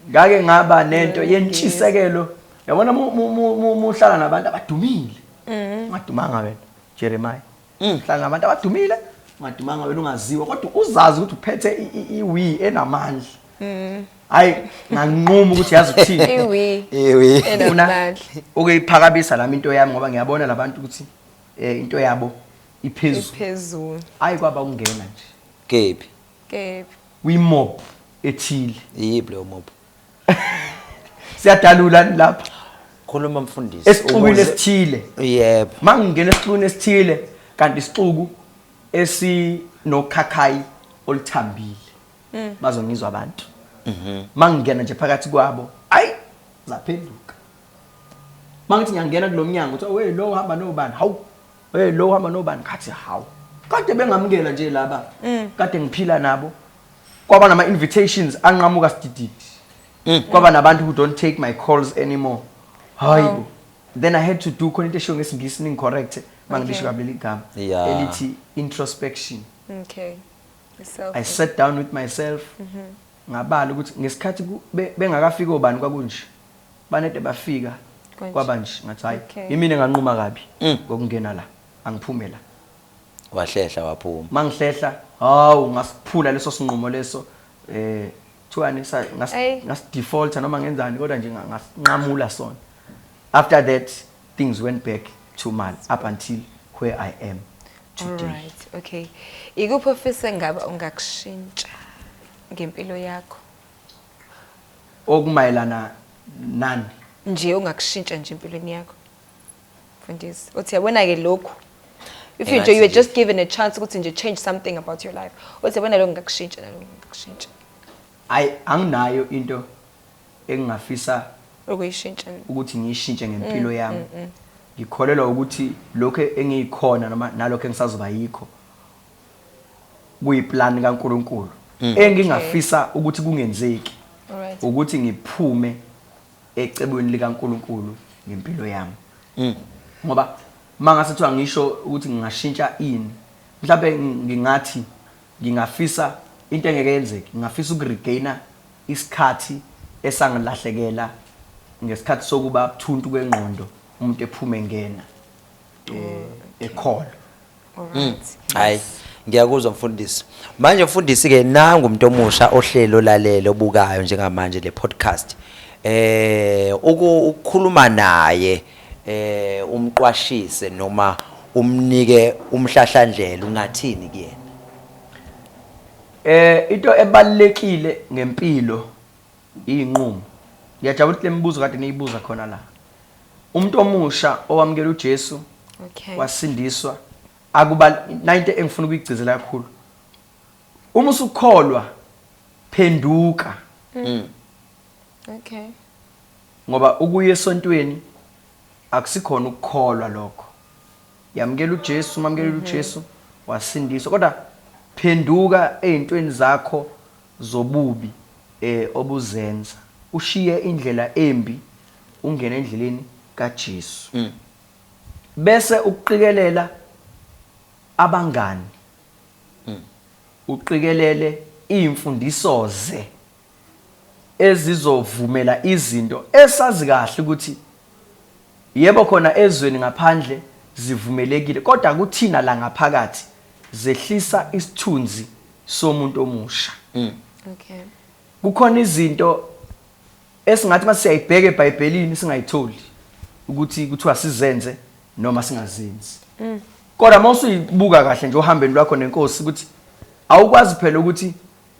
ngake ngaba nento yentshisekelo yabona muhlala nabantu abadumile mm. ungadumanga wena jeremiya mm. hlala nabantu abadumile ungadumanga wena ungaziwa kodwa uzazi ukuthi uphethe iwi enamandla mm. hayi nganquma ukuthi yazi ukuthini funa ukuyiphakamisa lami into yami ngoba ngiyabona labantu ukuthi eh, into yabo iphezulu hayi kwaba ukungena nje Kephi? Kephi? Kwi-mob ethile. Iyiphi leyo mob? Siyadalula ni lapha? Khuluma mfundisi. Esixukwini esithile. Yebo. Mangingena esixukwini esithile kanti isixuku esinokhakhayi oluthambile. Mm. Bazongizwa abantu. Mhm. Mangingena nje phakathi kwabo. Ayi zaphenduka. Mangithi ngiyangena kulomnyango kuthiwa we lo hamba nobani? Hawu Hey lo hamba nobani khathi hawu. Kade bengamukela nje laba. Mm. Kade ngiphila nabo. Kwaba nama invitations anqamuka sidididi. Mm. Kwaba nabantu who don't take my calls anymore. Hayibo. Oh. Then I had to do khona into eshiwo ngesingisi ning correct mangilisho kabi ligama elithi introspection. Okay. Self. I sat down with myself. Mm -hmm. Ngabala ukuthi ngesikhathi bengakafiki obani kwakunje. Banede bafika kwaba nje ngathi hayi okay. imina enganquma kabi mm. ngokungena la angiphume la wahlehla waphuma mangihlehla hawu ngasiphula leso sinqumo leso eh kuthiwani ngasidefaulta noma ngenzani kodwa nje ngasinqamula sona after that Things went back to mal up until where I am today. Alright, okay. Ikuphi ofise ngaba ungakushintsha ngempilo yakho? Okumayelana nani? Nje ungakushintsha nje empilweni yakho. Mfundisi, uthi yabona ke lokhu. If you nje you were just given a chance ukuthi nje change something about your life. Uthi yabona lokho ngakushintsha nalokho ngakushintsha. Ay anginayo into engingafisa ukuyishintsha ukuthi ngiyishintshe ngempilo mm, yami mm, mm. ngikholelwa ukuthi lokho engiyikhona noma nalokho engisazoba yikho kuyiplani kaNkuluNkulu mm. engingafisa okay. ukuthi kungenzeki right. ukuthi ngiphume ecebweni likaNkuluNkulu ngempilo yami mm. ngoba mangase kuthiwa ngisho ukuthi ngingashintsha ini mhlawumbe ngingathi ngingafisa into engeke yenzeke ngingafisa ukuregaina Isikhathi esangilahlekela ngesikhathi sokuba buthuntu kwengqondo umuntu ephuma engena ekholo. Alright. Hayi. Ngiyakuzwa mfundisi. Manje mfundisi ke nangu umuntu omusha ohleli olalele obukayo njengamanje le podcast. Eh uku- ukukhuluma naye eh umqwashise noma umnike umhlahlandlela ungathini kuyena? Eh into ebalekile ngempilo izinqumo. Ngiyajabula ukuthi lemibuzo kade niyibuza khona la. Umuntu omusha owamukela uJesu okay. wasindiswa akuba nayinto engifuna ukuyigcizela kakhulu. Uma usukholwa phenduka. Mm. Okay. Ngoba ukuya esontweni akusikhona ukukholwa lokho. Yamukela uJesu, mamukelile uJesu wasindiswa. Kodwa phenduka ezintweni zakho zobubi eh obuzenza. Ushiye indlela embi ungene endleleni kaJesu. Bese ukuqikelela abangani. Uqikelele izimfundiso ze. ezizovumela izinto esazi kahle ukuthi yebo khona ezweni ngaphandle zivumelekile kodwa kuthina la ngaphakathi zehlisa isithunzi somuntu omusha. Mm. Okay. Kukhona izinto esingathi masiyayibheka eBhayibhelini singayitholi ukuthi kuthiwa sizenze noma singazenzi. Mm. Kodwa mawusibuka kahle nje ohambeni lwakho nenkosi ukuthi awukwazi phela ukuthi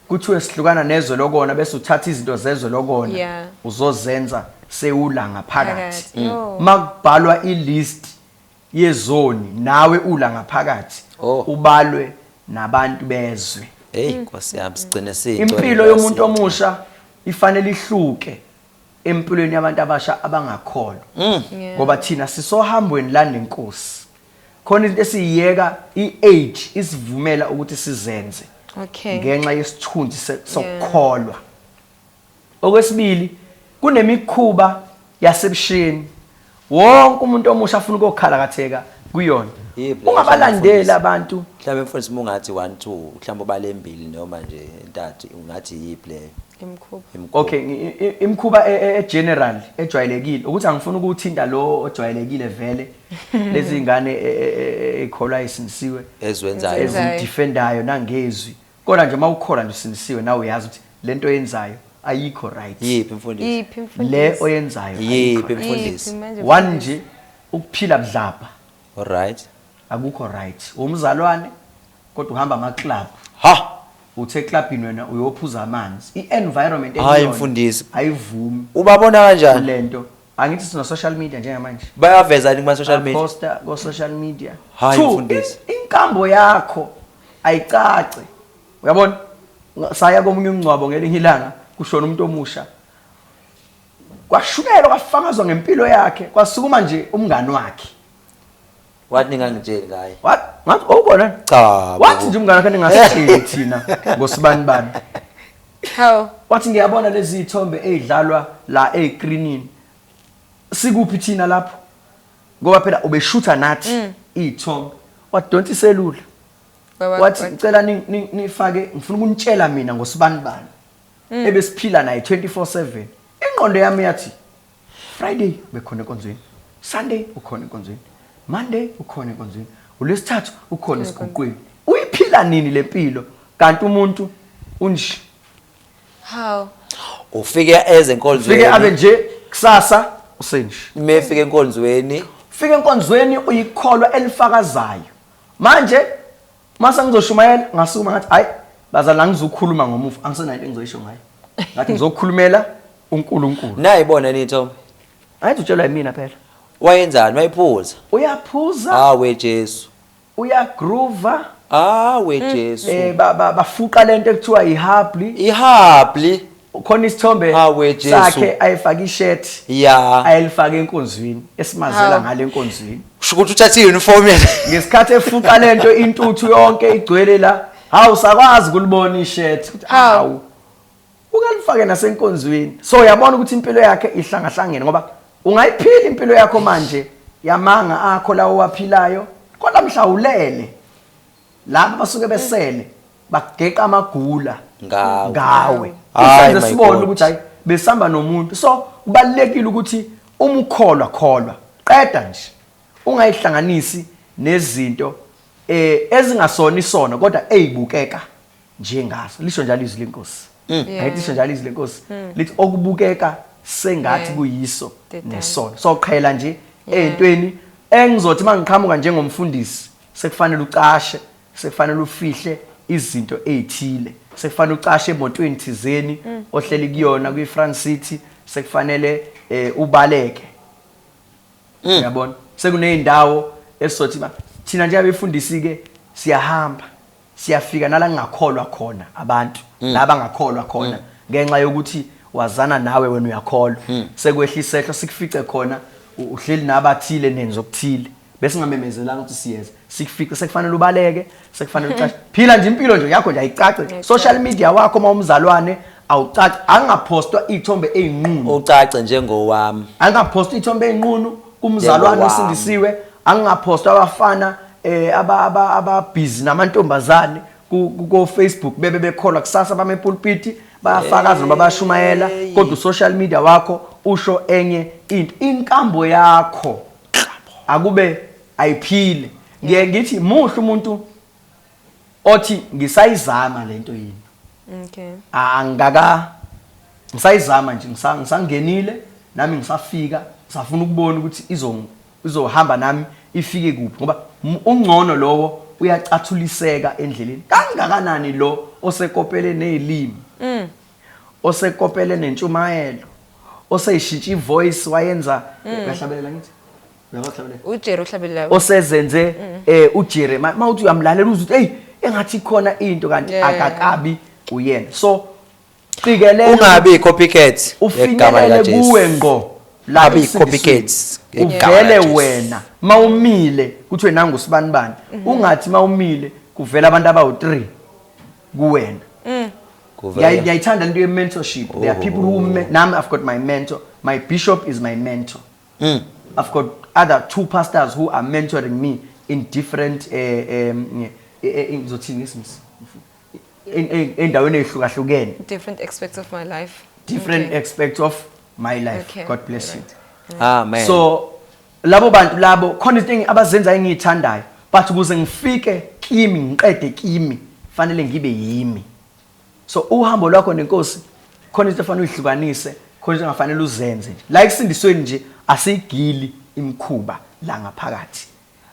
kuthiwe sihlukana nezwe lokona bese uthatha izinto zezwe lokona yeah. uzozenza sewula ngaphakathi mm. oh. makubhalwa ilist yezoni nawe ula ngaphakathi oh. ubalwe nabantu bezwe hey mm. nkosi yami sigcine sitho impilo yomuntu omusha ifanele ihluke empilweni yabantu abasha abangakholwa mm. ngoba thina sisohambweni la nenkosi khona into esiyiyeka i-age isivumela ukuthi sizenze okay ngenxa yesithunzi sokukholwa okwesibili kunemikhuba yasebusheni Wonke umuntu omusha afuna ukokhalakatheka kuyona. Yebo, Ungabalandeli mfundisi. abantu. Mhlawumbe mfundisi uma ungathi one two mhlawumbe ubalembili noma nje entathu ungathi yiphi leyo imkhuba imikhuba. Okay, ngi- i- imikhuba e- e- e-general ejwayelekile ukuthi angifuni ukuthinta lo ojwayelekile vele lezi ngane e- e- e- ekholwa isinisiwe Eziwenzayo. ezidefendayo nangezwi Kodwa nje uma ukhona nje usindisiwe nawe uyazi ukuthi lento oyenzayo ayikho right. Yiphi mfundisi? Yiphi mfundisi? Le oyenzayo ayikho. Yiphi mfundisi? One nje ukuphila budlabha. Alright. Akukho right. Umzalwane kodwa uhamba ama club. Ha. uthe clubini wena uyophuza amanzi i-environment hayi mfundisi ayivumi ubabona kanjani lento angithi sino social media njengamanje bayaveza yini kuma social media posta ko social media hayi mfundisi inkambo yakho ayicace uyabona saya komunye umngcwabo ngelinye ilanga kushona umuntu omusha kwashukelwa kwafakazwa ngempilo yakhe kwasukuma nje umngani wakhe Wathi ningangitsheli ngaye. What? Ngathi owubona? Cha. Wathi nje umngane wakhe ningasitsheli thina ngosibani bani. How? Wathi ngiyabona lezi ithombe ezidlalwa la egreenini. Sikuphi thina lapho? Ngoba phela ubeshutha nathi mm. ithombe. Wadonsa iselula. Wathi ngicela nifake ngifuna ukunitshela mina ngosibani bani. Mm. Ebesiphila naye 24/7. Ingqondo yami yathi Friday bekhona enkonzweni. Sunday ukhona enkonzweni. Monday ukhona enkonzweni. ULwesithathu ukhona esiguqweni. Uyiphila nini lempilo? Kanti umuntu unje. How? Ufike eze enkonzweni. Ufike abe nje kusasa usenje. Mefike enkonzweni. Ufike enkonzweni uyikholwa elifakazayo. Manje Uma sengizoshumayela ngasukuma ngathi hayi bazali angizukhuluma ngomufi angisenayo into engizoyisho ngayo. Ngathi ngizokhulumela uNkulunkulu. Nayi bona nitho. Ayithi utshelwa yimina phela. Wayenzani wayiphuza? Uyaphuza. Ah we Jesu. Uyagroova. Ah we mm. Jesu. Eh bafuqa lento ekuthiwa ihabli. Ihabli. ukhona isithombe sakhe ayefaka ishirt yeah ayelifaka enkonzweni esimazela ngale enkonzweni kusho ukuthi uthathe iuniform yena ngesikhathi efuqa lento intuthu yonke igcwele la hawu sakwazi kulibona ishirt ukuthi hawu ukalifake nasenkonzweni so uyabona ukuthi impilo yakhe ihlangahlangene ngoba ungayiphila impilo yakho manje yamanga akho lawo waphilayo kodwa mhlawulele laba basuke besele bageqa amagula Ngawe. ngawe Ay, usenze my sibone God. ukuthi hayi besihamba nomuntu so kubalulekile ukuthi uma ukholwa kholwa qeda nje ungayihlanganisi nezinto eh ezingasona isona kodwa eyibukeka njengaso lisho njalo izwi lenkosi Mm. Yeah. ayithi lisho njalo izwi lenkosi lithi okubukeka sengathi Yeah. kuyiso Dedan. nesono so qhela nje eyintweni engizothi mangiqhamuka njengomfundisi sekufanele ucashe sekufanele ufihle izinto ezithile sekufanele ucashe emotweni thizeni mm. ohleli kuyona kwi France City sekufanele eh, ubaleke mm. uyabona sekuneyindawo esizothi thina nje abefundisi ke siyahamba Siyafika nala ngingakholwa khona abantu mm. la bangakholwa khona mm. ngenxa yokuthi wazana nawe wena uyakholwa mm. sekwehla isehlo sikufice khona uhleli nabathile nenzo okuthile bese ngamemezelanga ukuthi siyeza sikufice sekufanele ubaleke sekufanele ucace phila nje impilo nje yakho nje ayicace social media wakho uma umzalwane awucace angaphostwa ithombe ezinqunu ucace njengowami angaphostwa ithombe ezinqunu Kumzalwane osindisiwe angingaphosta abafana eh aba aba ababhizi namantombazane ku Facebook bebe bekholwa kusasa bame pulpiti bayafakaza noma bayashumayela kodwa social media wakho usho enye into inkambo yakho akube ayiphile ngiye ngithi muhle umuntu othi ngisayizama lento yini okay angaka ngisayizama nje ngisangenile nami ngisafika ngisafuna ukubona ukuthi izo izohamba nami ifike kuphi ngoba ungcono lowo uyacathuliseka endleleni kangakanani lo osekopele nezilimi mm. osekopele nentshumayelo oseyishintsha ivoice wayenza mm. uyahlabelela ngithi ujere ohlabelelayo osezenze mm. eh ujere uma uthi uyamlalela uze uthi hey engathi khona into kanti akakabi uyena so qikelela ungabi copycat igama lika Jesu kuwe ngqo labi copycats uvele wena mawumile kuthiwe nangu sibani bani mhm. ungathi mawumile kuvela abantu abawu3 kuwena mm. ngiyayithanda lento ye mentorship there are people who nami i've got my mentor my bishop is my mentor Mm. I've got other two pastors who are mentoring me in different eh um eh, eh, eh, ngizothini ngesimisi En- en- endaweni ezihlukahlukene Different aspects of my life. different Okay. aspects of my life Okay. god bless you Right. Amen. so labo bantu labo khona izinto engi- abazenza engiyithandayo but ukuze ngifike kimi ngiqede kimi fanele ngibe yimi so uhambo lwakho nenkosi khona into efanele uyihlukanise khona into engafanele uzenze nje la ekusindisweni nje asigili imkhuba la ngaphakathi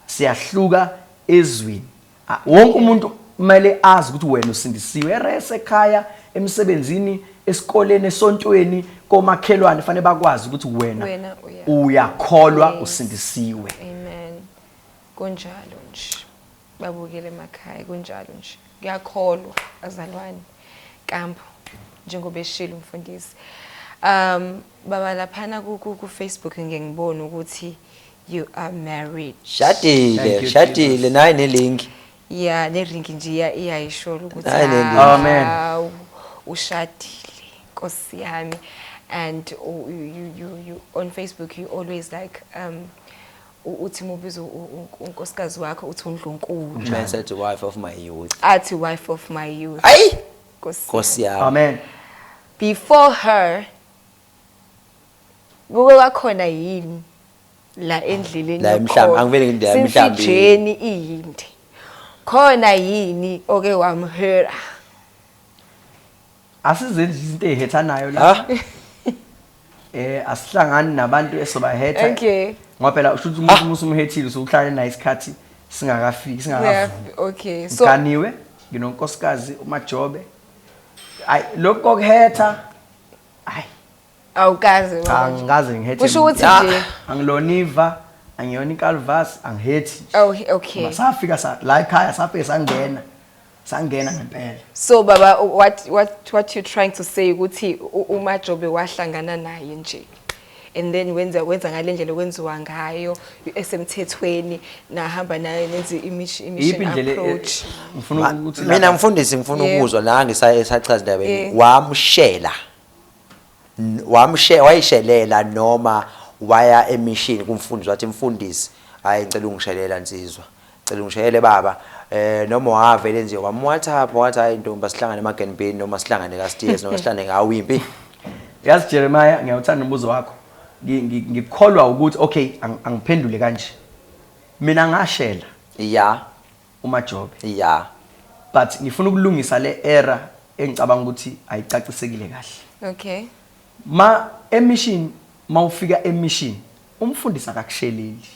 siyahluka ezwini A- wonke umuntu kumele azi ukuthi wena usindisiwe erese ekhaya emsebenzini esikoleni esontweni komakhelwane fanele bakwazi ukuthi wena Wena uya- uyakholwa Yes. usindisiwe Amen. Kunjalo nje. Babukele emakhaya kunjalo nje. Kuyakholwa bazalwane. Kampu njengoba eshilo umfundisi. Um baba laphana ku ku Facebook ngeke ngibone ukuthi you are married. Shadile, Thank you, shadile Jesus. nayi ne link. Yeah, ne ring nje iya iyayishola ukuthi Hayi, le ndaba. Amen. hawu, ushadile Nkosi yami and u- you you you on Facebook you always like um U- uthi mubiza u- u- u- unkosikazi wakho uthi undlunkulu Uma sathi wife of my youth. athi wife of my youth Ayi! Nkosi yami. Nkosi yami. Amen. before her kuke kwakhona yini la endleleni La emhlamba, yokholo? angivele ngithi la Since emhlambeni. ijeni iyinde khona yini oke wamhera Asizenzi izinto ezihethanayo la. Ha? Eh asihlangani nabantu esobahetha. Okay. Ngoba phela usho ukuthi umuntu uma usumhethile usuhlale naye isikhathi singakafiki singakavuki. Okay. So Ngiganiwe nginonkosikazi uMajobe. Ay lokho kuhetha. Ay awukaze cha wena. ngikaze ngihethe. Kusho muntu. ukuthi Ah, nje- angiloniva angiyona ikalvas angihethi. Oh, okay. Safika sa la ekhaya safike sangena. sangena ngempela so baba what what what you trying to say ukuthi uma jobe wahlangana naye nje and then wenza wenza ngalendlela okwenziwa ngayo esemthethweni nahamba naye nenze imission e- approach ngifuna ukuthi mina mfundisi ngifuna ukuzwa la ngisachaza indaba yami wamshela Wamshe, wayishelela noma waya emishini kumfundisi wathi mfundisi hayi ngicela ungishelela nsizwa ngicela ungishayele baba eh noma wavele nje wamwhatsapp wathi hayi ntombi asihlangane emagen bin noma sihlangane ka steers noma sihlangane ngawo impi yazi Jeremiah ngiyawuthanda umbuzo wakho ngikholwa ukuthi okay angiphendule kanje mina ngashela yeah uMajobe. Ya but ngifuna ukulungisa le error engicabanga ukuthi ayicacisekile kahle. Okay. Ma emission mawufika emission umfundisi akakusheleli.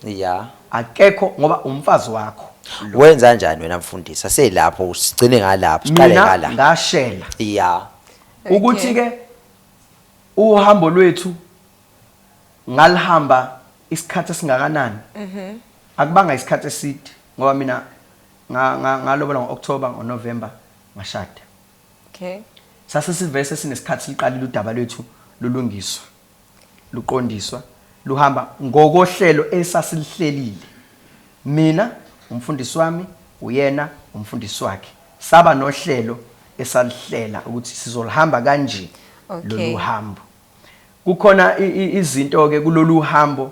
Ya. Akekho ngoba umfazi wakho. Wenza njani wena mfundisi? Aselapho usigcine ngalapho, siqale ngala. Ngashela. Ya. Ukuthi ke uhambo lwethu ngalihamba Isikhathi esingakanani? Akubanga isikhathi eside ngoba mina ngalobola ngo-October, ngo-November ngashada. Sase sivese sinesikhathi siluqalile udaba lwethu lulungiswa, luqondiswa, luhamba ngokohlelo esasiluhlelile. Mina, umfundisi wami, uyena, umfundisi wakhe. Saba nohlelo esaluhlela ukuthi sizoluhamba kanje lolu hambo. Kukhona izinto-ke kulolu hambo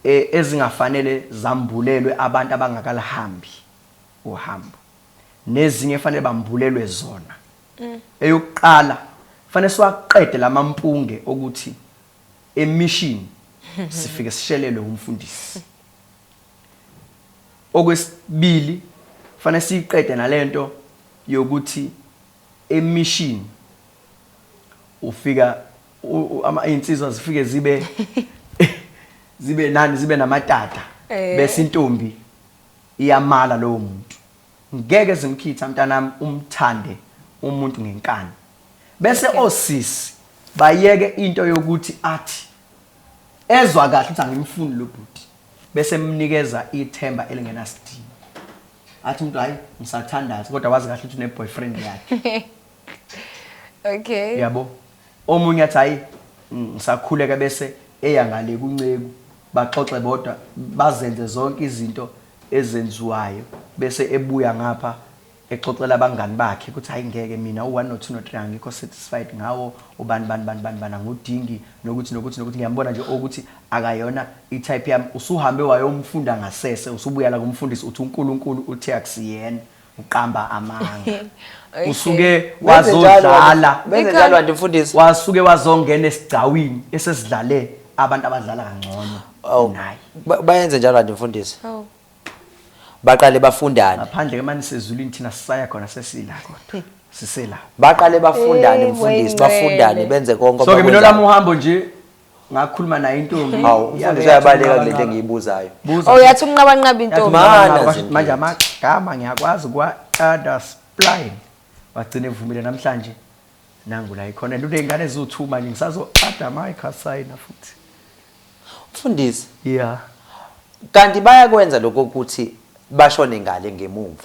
ezingafanele zambulelwe abantu abangakaluhambi uhambo, nezinye ekufanele bambulelwe zona. Eyokuqala, kufanele siwaqede la mampunge okuthi emishini sifike sishelelwe wumfundisi. Okwesibili, kufanele siyiqede nale nto yokuthi emission ufika izinsizwa zifike zibe zibe nani zibe namatata eh. bese intombi iyamala lowo muntu ngeke zimkhitha mntanami umthande umuntu ngenkani bese osisi bayeke into yokuthi athi ezwa kahle ukuthi angimfuni lo bhuti bese emnikeza ithemba elingenasidingo athi umuntu hayi ngisathandaza kodwa wazi kahle ukuthi une boyfriend yakhe okay uyabo omunye athi hayi mm, ngisakhuleka bese eya ngale kunceku baxoxe bodwa bazenze zonke izinto ezenziwayo bese ebuya ngapha exoxela abangani bakhe ukuthi hayi ngeke mina u-1 no-2 no-3 angikho satisfied ngawo ubani bani bani bani bani angudingi nokuthi nokuthi nokuthi ngiyambona nje ukuthi Akayona I type yami. Usuhambe wayomfunda ngasese usubuya la kumfundisi uthi unkulunkulu uthe akusiyena uqamba amanga usuke wazodlala Benzenjalo kanti mfundisi. wasuke wazongena esigcawini esesidlale abantu abadlala kangcono Awu, kunaye ba- bayenze njalo kanti mfundisi Awu. baqale bafundane ngaphandle ke mani sezulwini thina sisaya khona sesila kodwa sisela baqale bafundane Eh, mfundisi wayingcwele. bafundane benze konke so ke mina abakwenzayo. olami uhambo nje ngakhuluma nayo intombi hawu yabe umfundisi yathi uyabaleka kule nto unqabanqaba. engiyibuzayo Buza oh yathi unqabanqaba Yathi intombi Mana unqabanqaba. zintombi. manje amagama ngiyakwazi ukuwaqada spline wagcina evumile namhlanje nangu la ikhona and uney'ngane eziwu-two manje ngisazo-ada amayikhasayina futhi mfundisi ya kanti bayakwenza lokho ukuthi bashone ngale ngemumva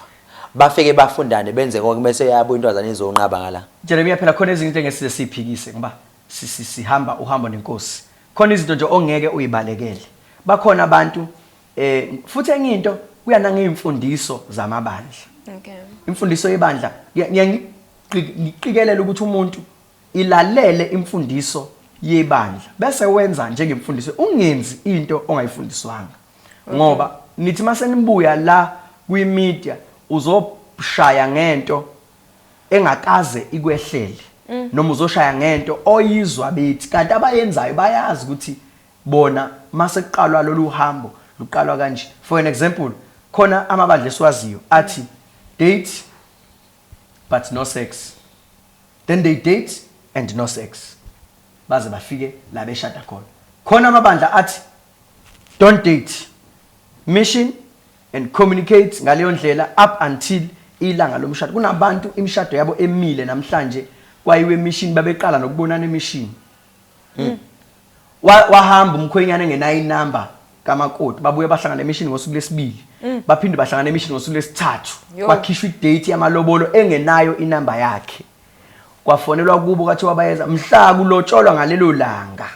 bafike bafundane benze konke bese yabo intwazana izonqaba ngala jeremia phela khona ezinye into engesize siyiphikise ngoba Sisi hamba uhambo nenkosi khona izinto nje ongeke uyibalekele bakhona abantu eh futhi enye into kuya nangeyimfundiso zamabandla okay imfundiso yebandla ngiyangicikelela ukuthi umuntu ilalele imfundiso yebandla bese wenza njengemfundiso ungenzi into ongayifundiswanga ngoba nithi masenibuya la kwi media uzoshaya ngento engakaze ikwehlele mm. noma uzoshaya ngento oyizwa bethi kanti abayenzayo bayazi ukuthi bona mase kuqalwa lolu hambo luqalwa kanje for an example khona amabandla esiwaziyo athi date but no sex then they date and no sex baze bafike la beshada khona khona amabandla athi don't date mission and communicate ngaleyo ndlela up until ilanga lomshado kunabantu imishado yabo emile namhlanje kwayiwe emishini babeqala nokubonana emishini hmm. Wa- wahamba umkhwenyana engenayo inamba kamakoti babuye bahlangana emishini ngosuku lesibili hmm. baphinde bahlangana emishini ngosuku lesithathu Yo. kwakhishwa idate yamalobolo engenayo inamba yakhe kwafonelwa kubo kwathi wabayeza mhla kulotsholwa ngalelo langa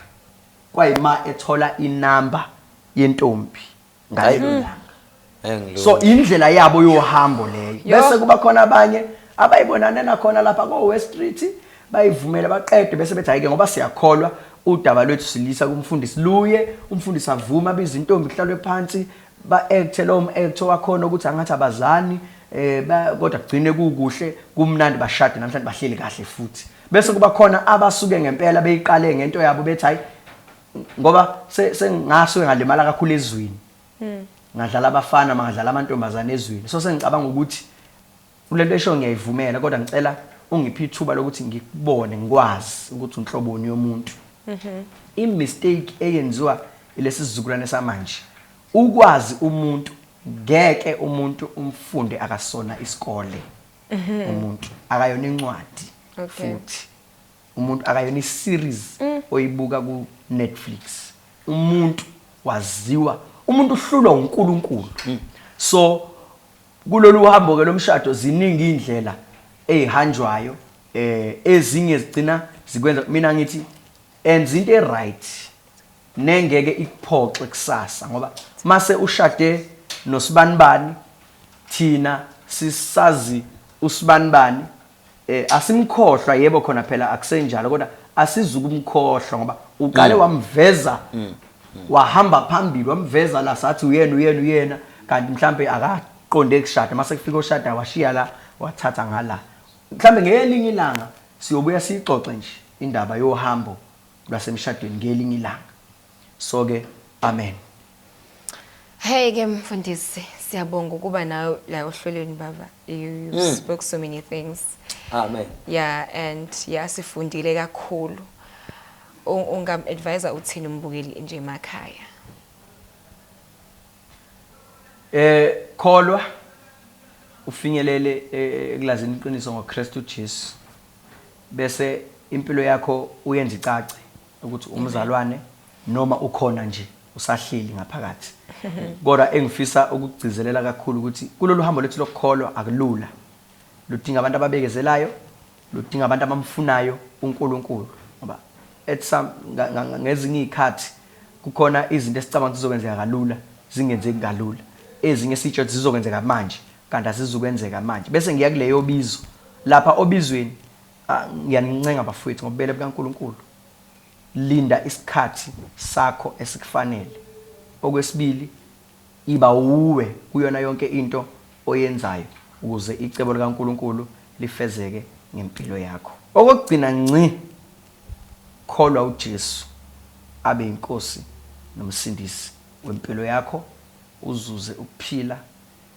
kwayima ethola inamba yentombi ngalelo langa Engilunga. so indlela yabo yohambo leyo Yo. bese kuba khona abanye abayibonane nakhona lapha ko-west street bayivumele baqede bese bethi hhayi-ke ngoba siyakholwa udaba lwethu silisa kumfundisi luye umfundisi avume abize intombi kuhlalwe phansi ba-ekthe lowo m-ekthi wakhona ukuthi angathi abazani um kodwa kugcine kukuhle kumnandi bashade namhlanje bahleli kahle futhi bese kuba khona abasuke ngempela beyiqale ngento yabo bethi hhayi ngoba sengasuke ngalimala kakhulu ezweni hmm. ngadlala abafana mangadlala amantombazane ezweni so sengicabanga ukuthi kulento esho ngiyayivumela kodwa ngicela ungiphe ithuba lokuthi ngikubone ngikwazi ukuthi unhloboni yomuntu mhm. imistake eyenziwa ilesi sizukulwane samanje ukwazi umuntu ngeke umuntu umfunde akasona isikole mhm. umuntu akayona incwadi futhi Umuntu akayona i series oyibuka ku Netflix. Umuntu waziwa, umuntu uhlulwa uNkulunkulu. So kulolu hambo ke lomshado ziningi izindlela ezihanjwayo eh ezinye zigcina zikwenza mina ngithi enza into e right nengeke ikuphoxe kusasa ngoba mase ushade noSibanibani thina sisazi uSibanibani Eh asimkhohlwa yebo khona phela akusenjalo kodwa asizukumkhohlwa ngoba uqale mm. wamveza mm. Mm. wahamba phambili wamveza la sathi uyena uyena uyena kanti mhlambe akaqonde kushada mase kufika oshada washiya la wathatha ngala mhlambe ngelinye ilanga siyobuya sixoxe nje indaba yohambo lwasemshadweni ngelinye ilanga so ke amen Hey ke mfundisi siyabonga ukuba nawe la ohlelweni baba you, you mm. spoke so many things amen yeah and yeah sifundile kakhulu ungam advisor uthini umbukeli nje emakhaya eh kholwa ufinyelele eh, ekulazini iqiniso ngoKristu Jesu bese impilo yakho uyenza icace ukuthi umzalwane noma ukhona nje usahleli ngaphakathi kodwa engifisa ukugcizelela kakhulu ukuthi kulolu hambo lethu lokukholwa akulula ludinga abantu ababekezelayo ludinga abantu abamfunayo uNkulunkulu ngoba at some ngezinye izikhathi kukhona izinto esicabanga zizokwenzeka kalula zingenzeki kalula ezinye sitsho ukuthi zizokwenzeka manje kanti asizukwenzeka manje bese ngiya kuleyo bizo lapha obizweni Ah, ngiyanincenga bafowethu ngobubele bukaNkulunkulu linda isikhathi sakho esikufanele okwesibili iba uwe kuyona yonke into oyenzayo ukuze icebo likaNkulunkulu lifezeke ngempilo yakho okugcina nci kholwa uJesu abe inkosi nomsindisi wempilo yakho uzuze ukuphila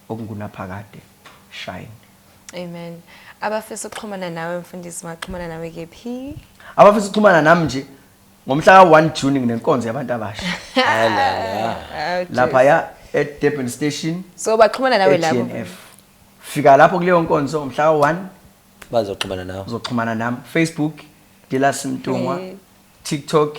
okungunaphakade shine. Amen. Abafisa ukuxhumana nawe mfundisi maxhumana nawe kephi? Abafisa ukuxhumana nami nje ngomhla ka 1 June nginenkonzo yabantu abasha. Lapha ya at Durban Station. So baxhumana nawe lapho. Fika lapho kuleyo nkonzo ngomhla ka 1 bazoxhumana nawe. Uzoxhumana nami Facebook Dilas Mtungwa, TikTok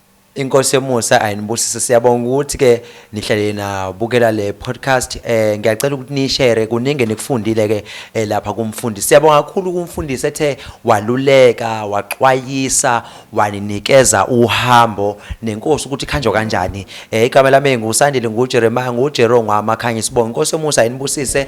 Inkosi yomusa ayinibusise siyabonga ukuthi ke nihlale nabukela le podcast eh ngiyacela ukuthi nishare kuningi nikufundile ke eh, lapha kumfundisi siyabonga kakhulu kumfundisi ethe waluleka waxwayisa waninikeza uhambo nenkosi ukuthi khanjwa kanjani eh igama lami ngusandile ngujeremiah ngujerongwa amakhanya sibonga inkosi yomusa ayinibusise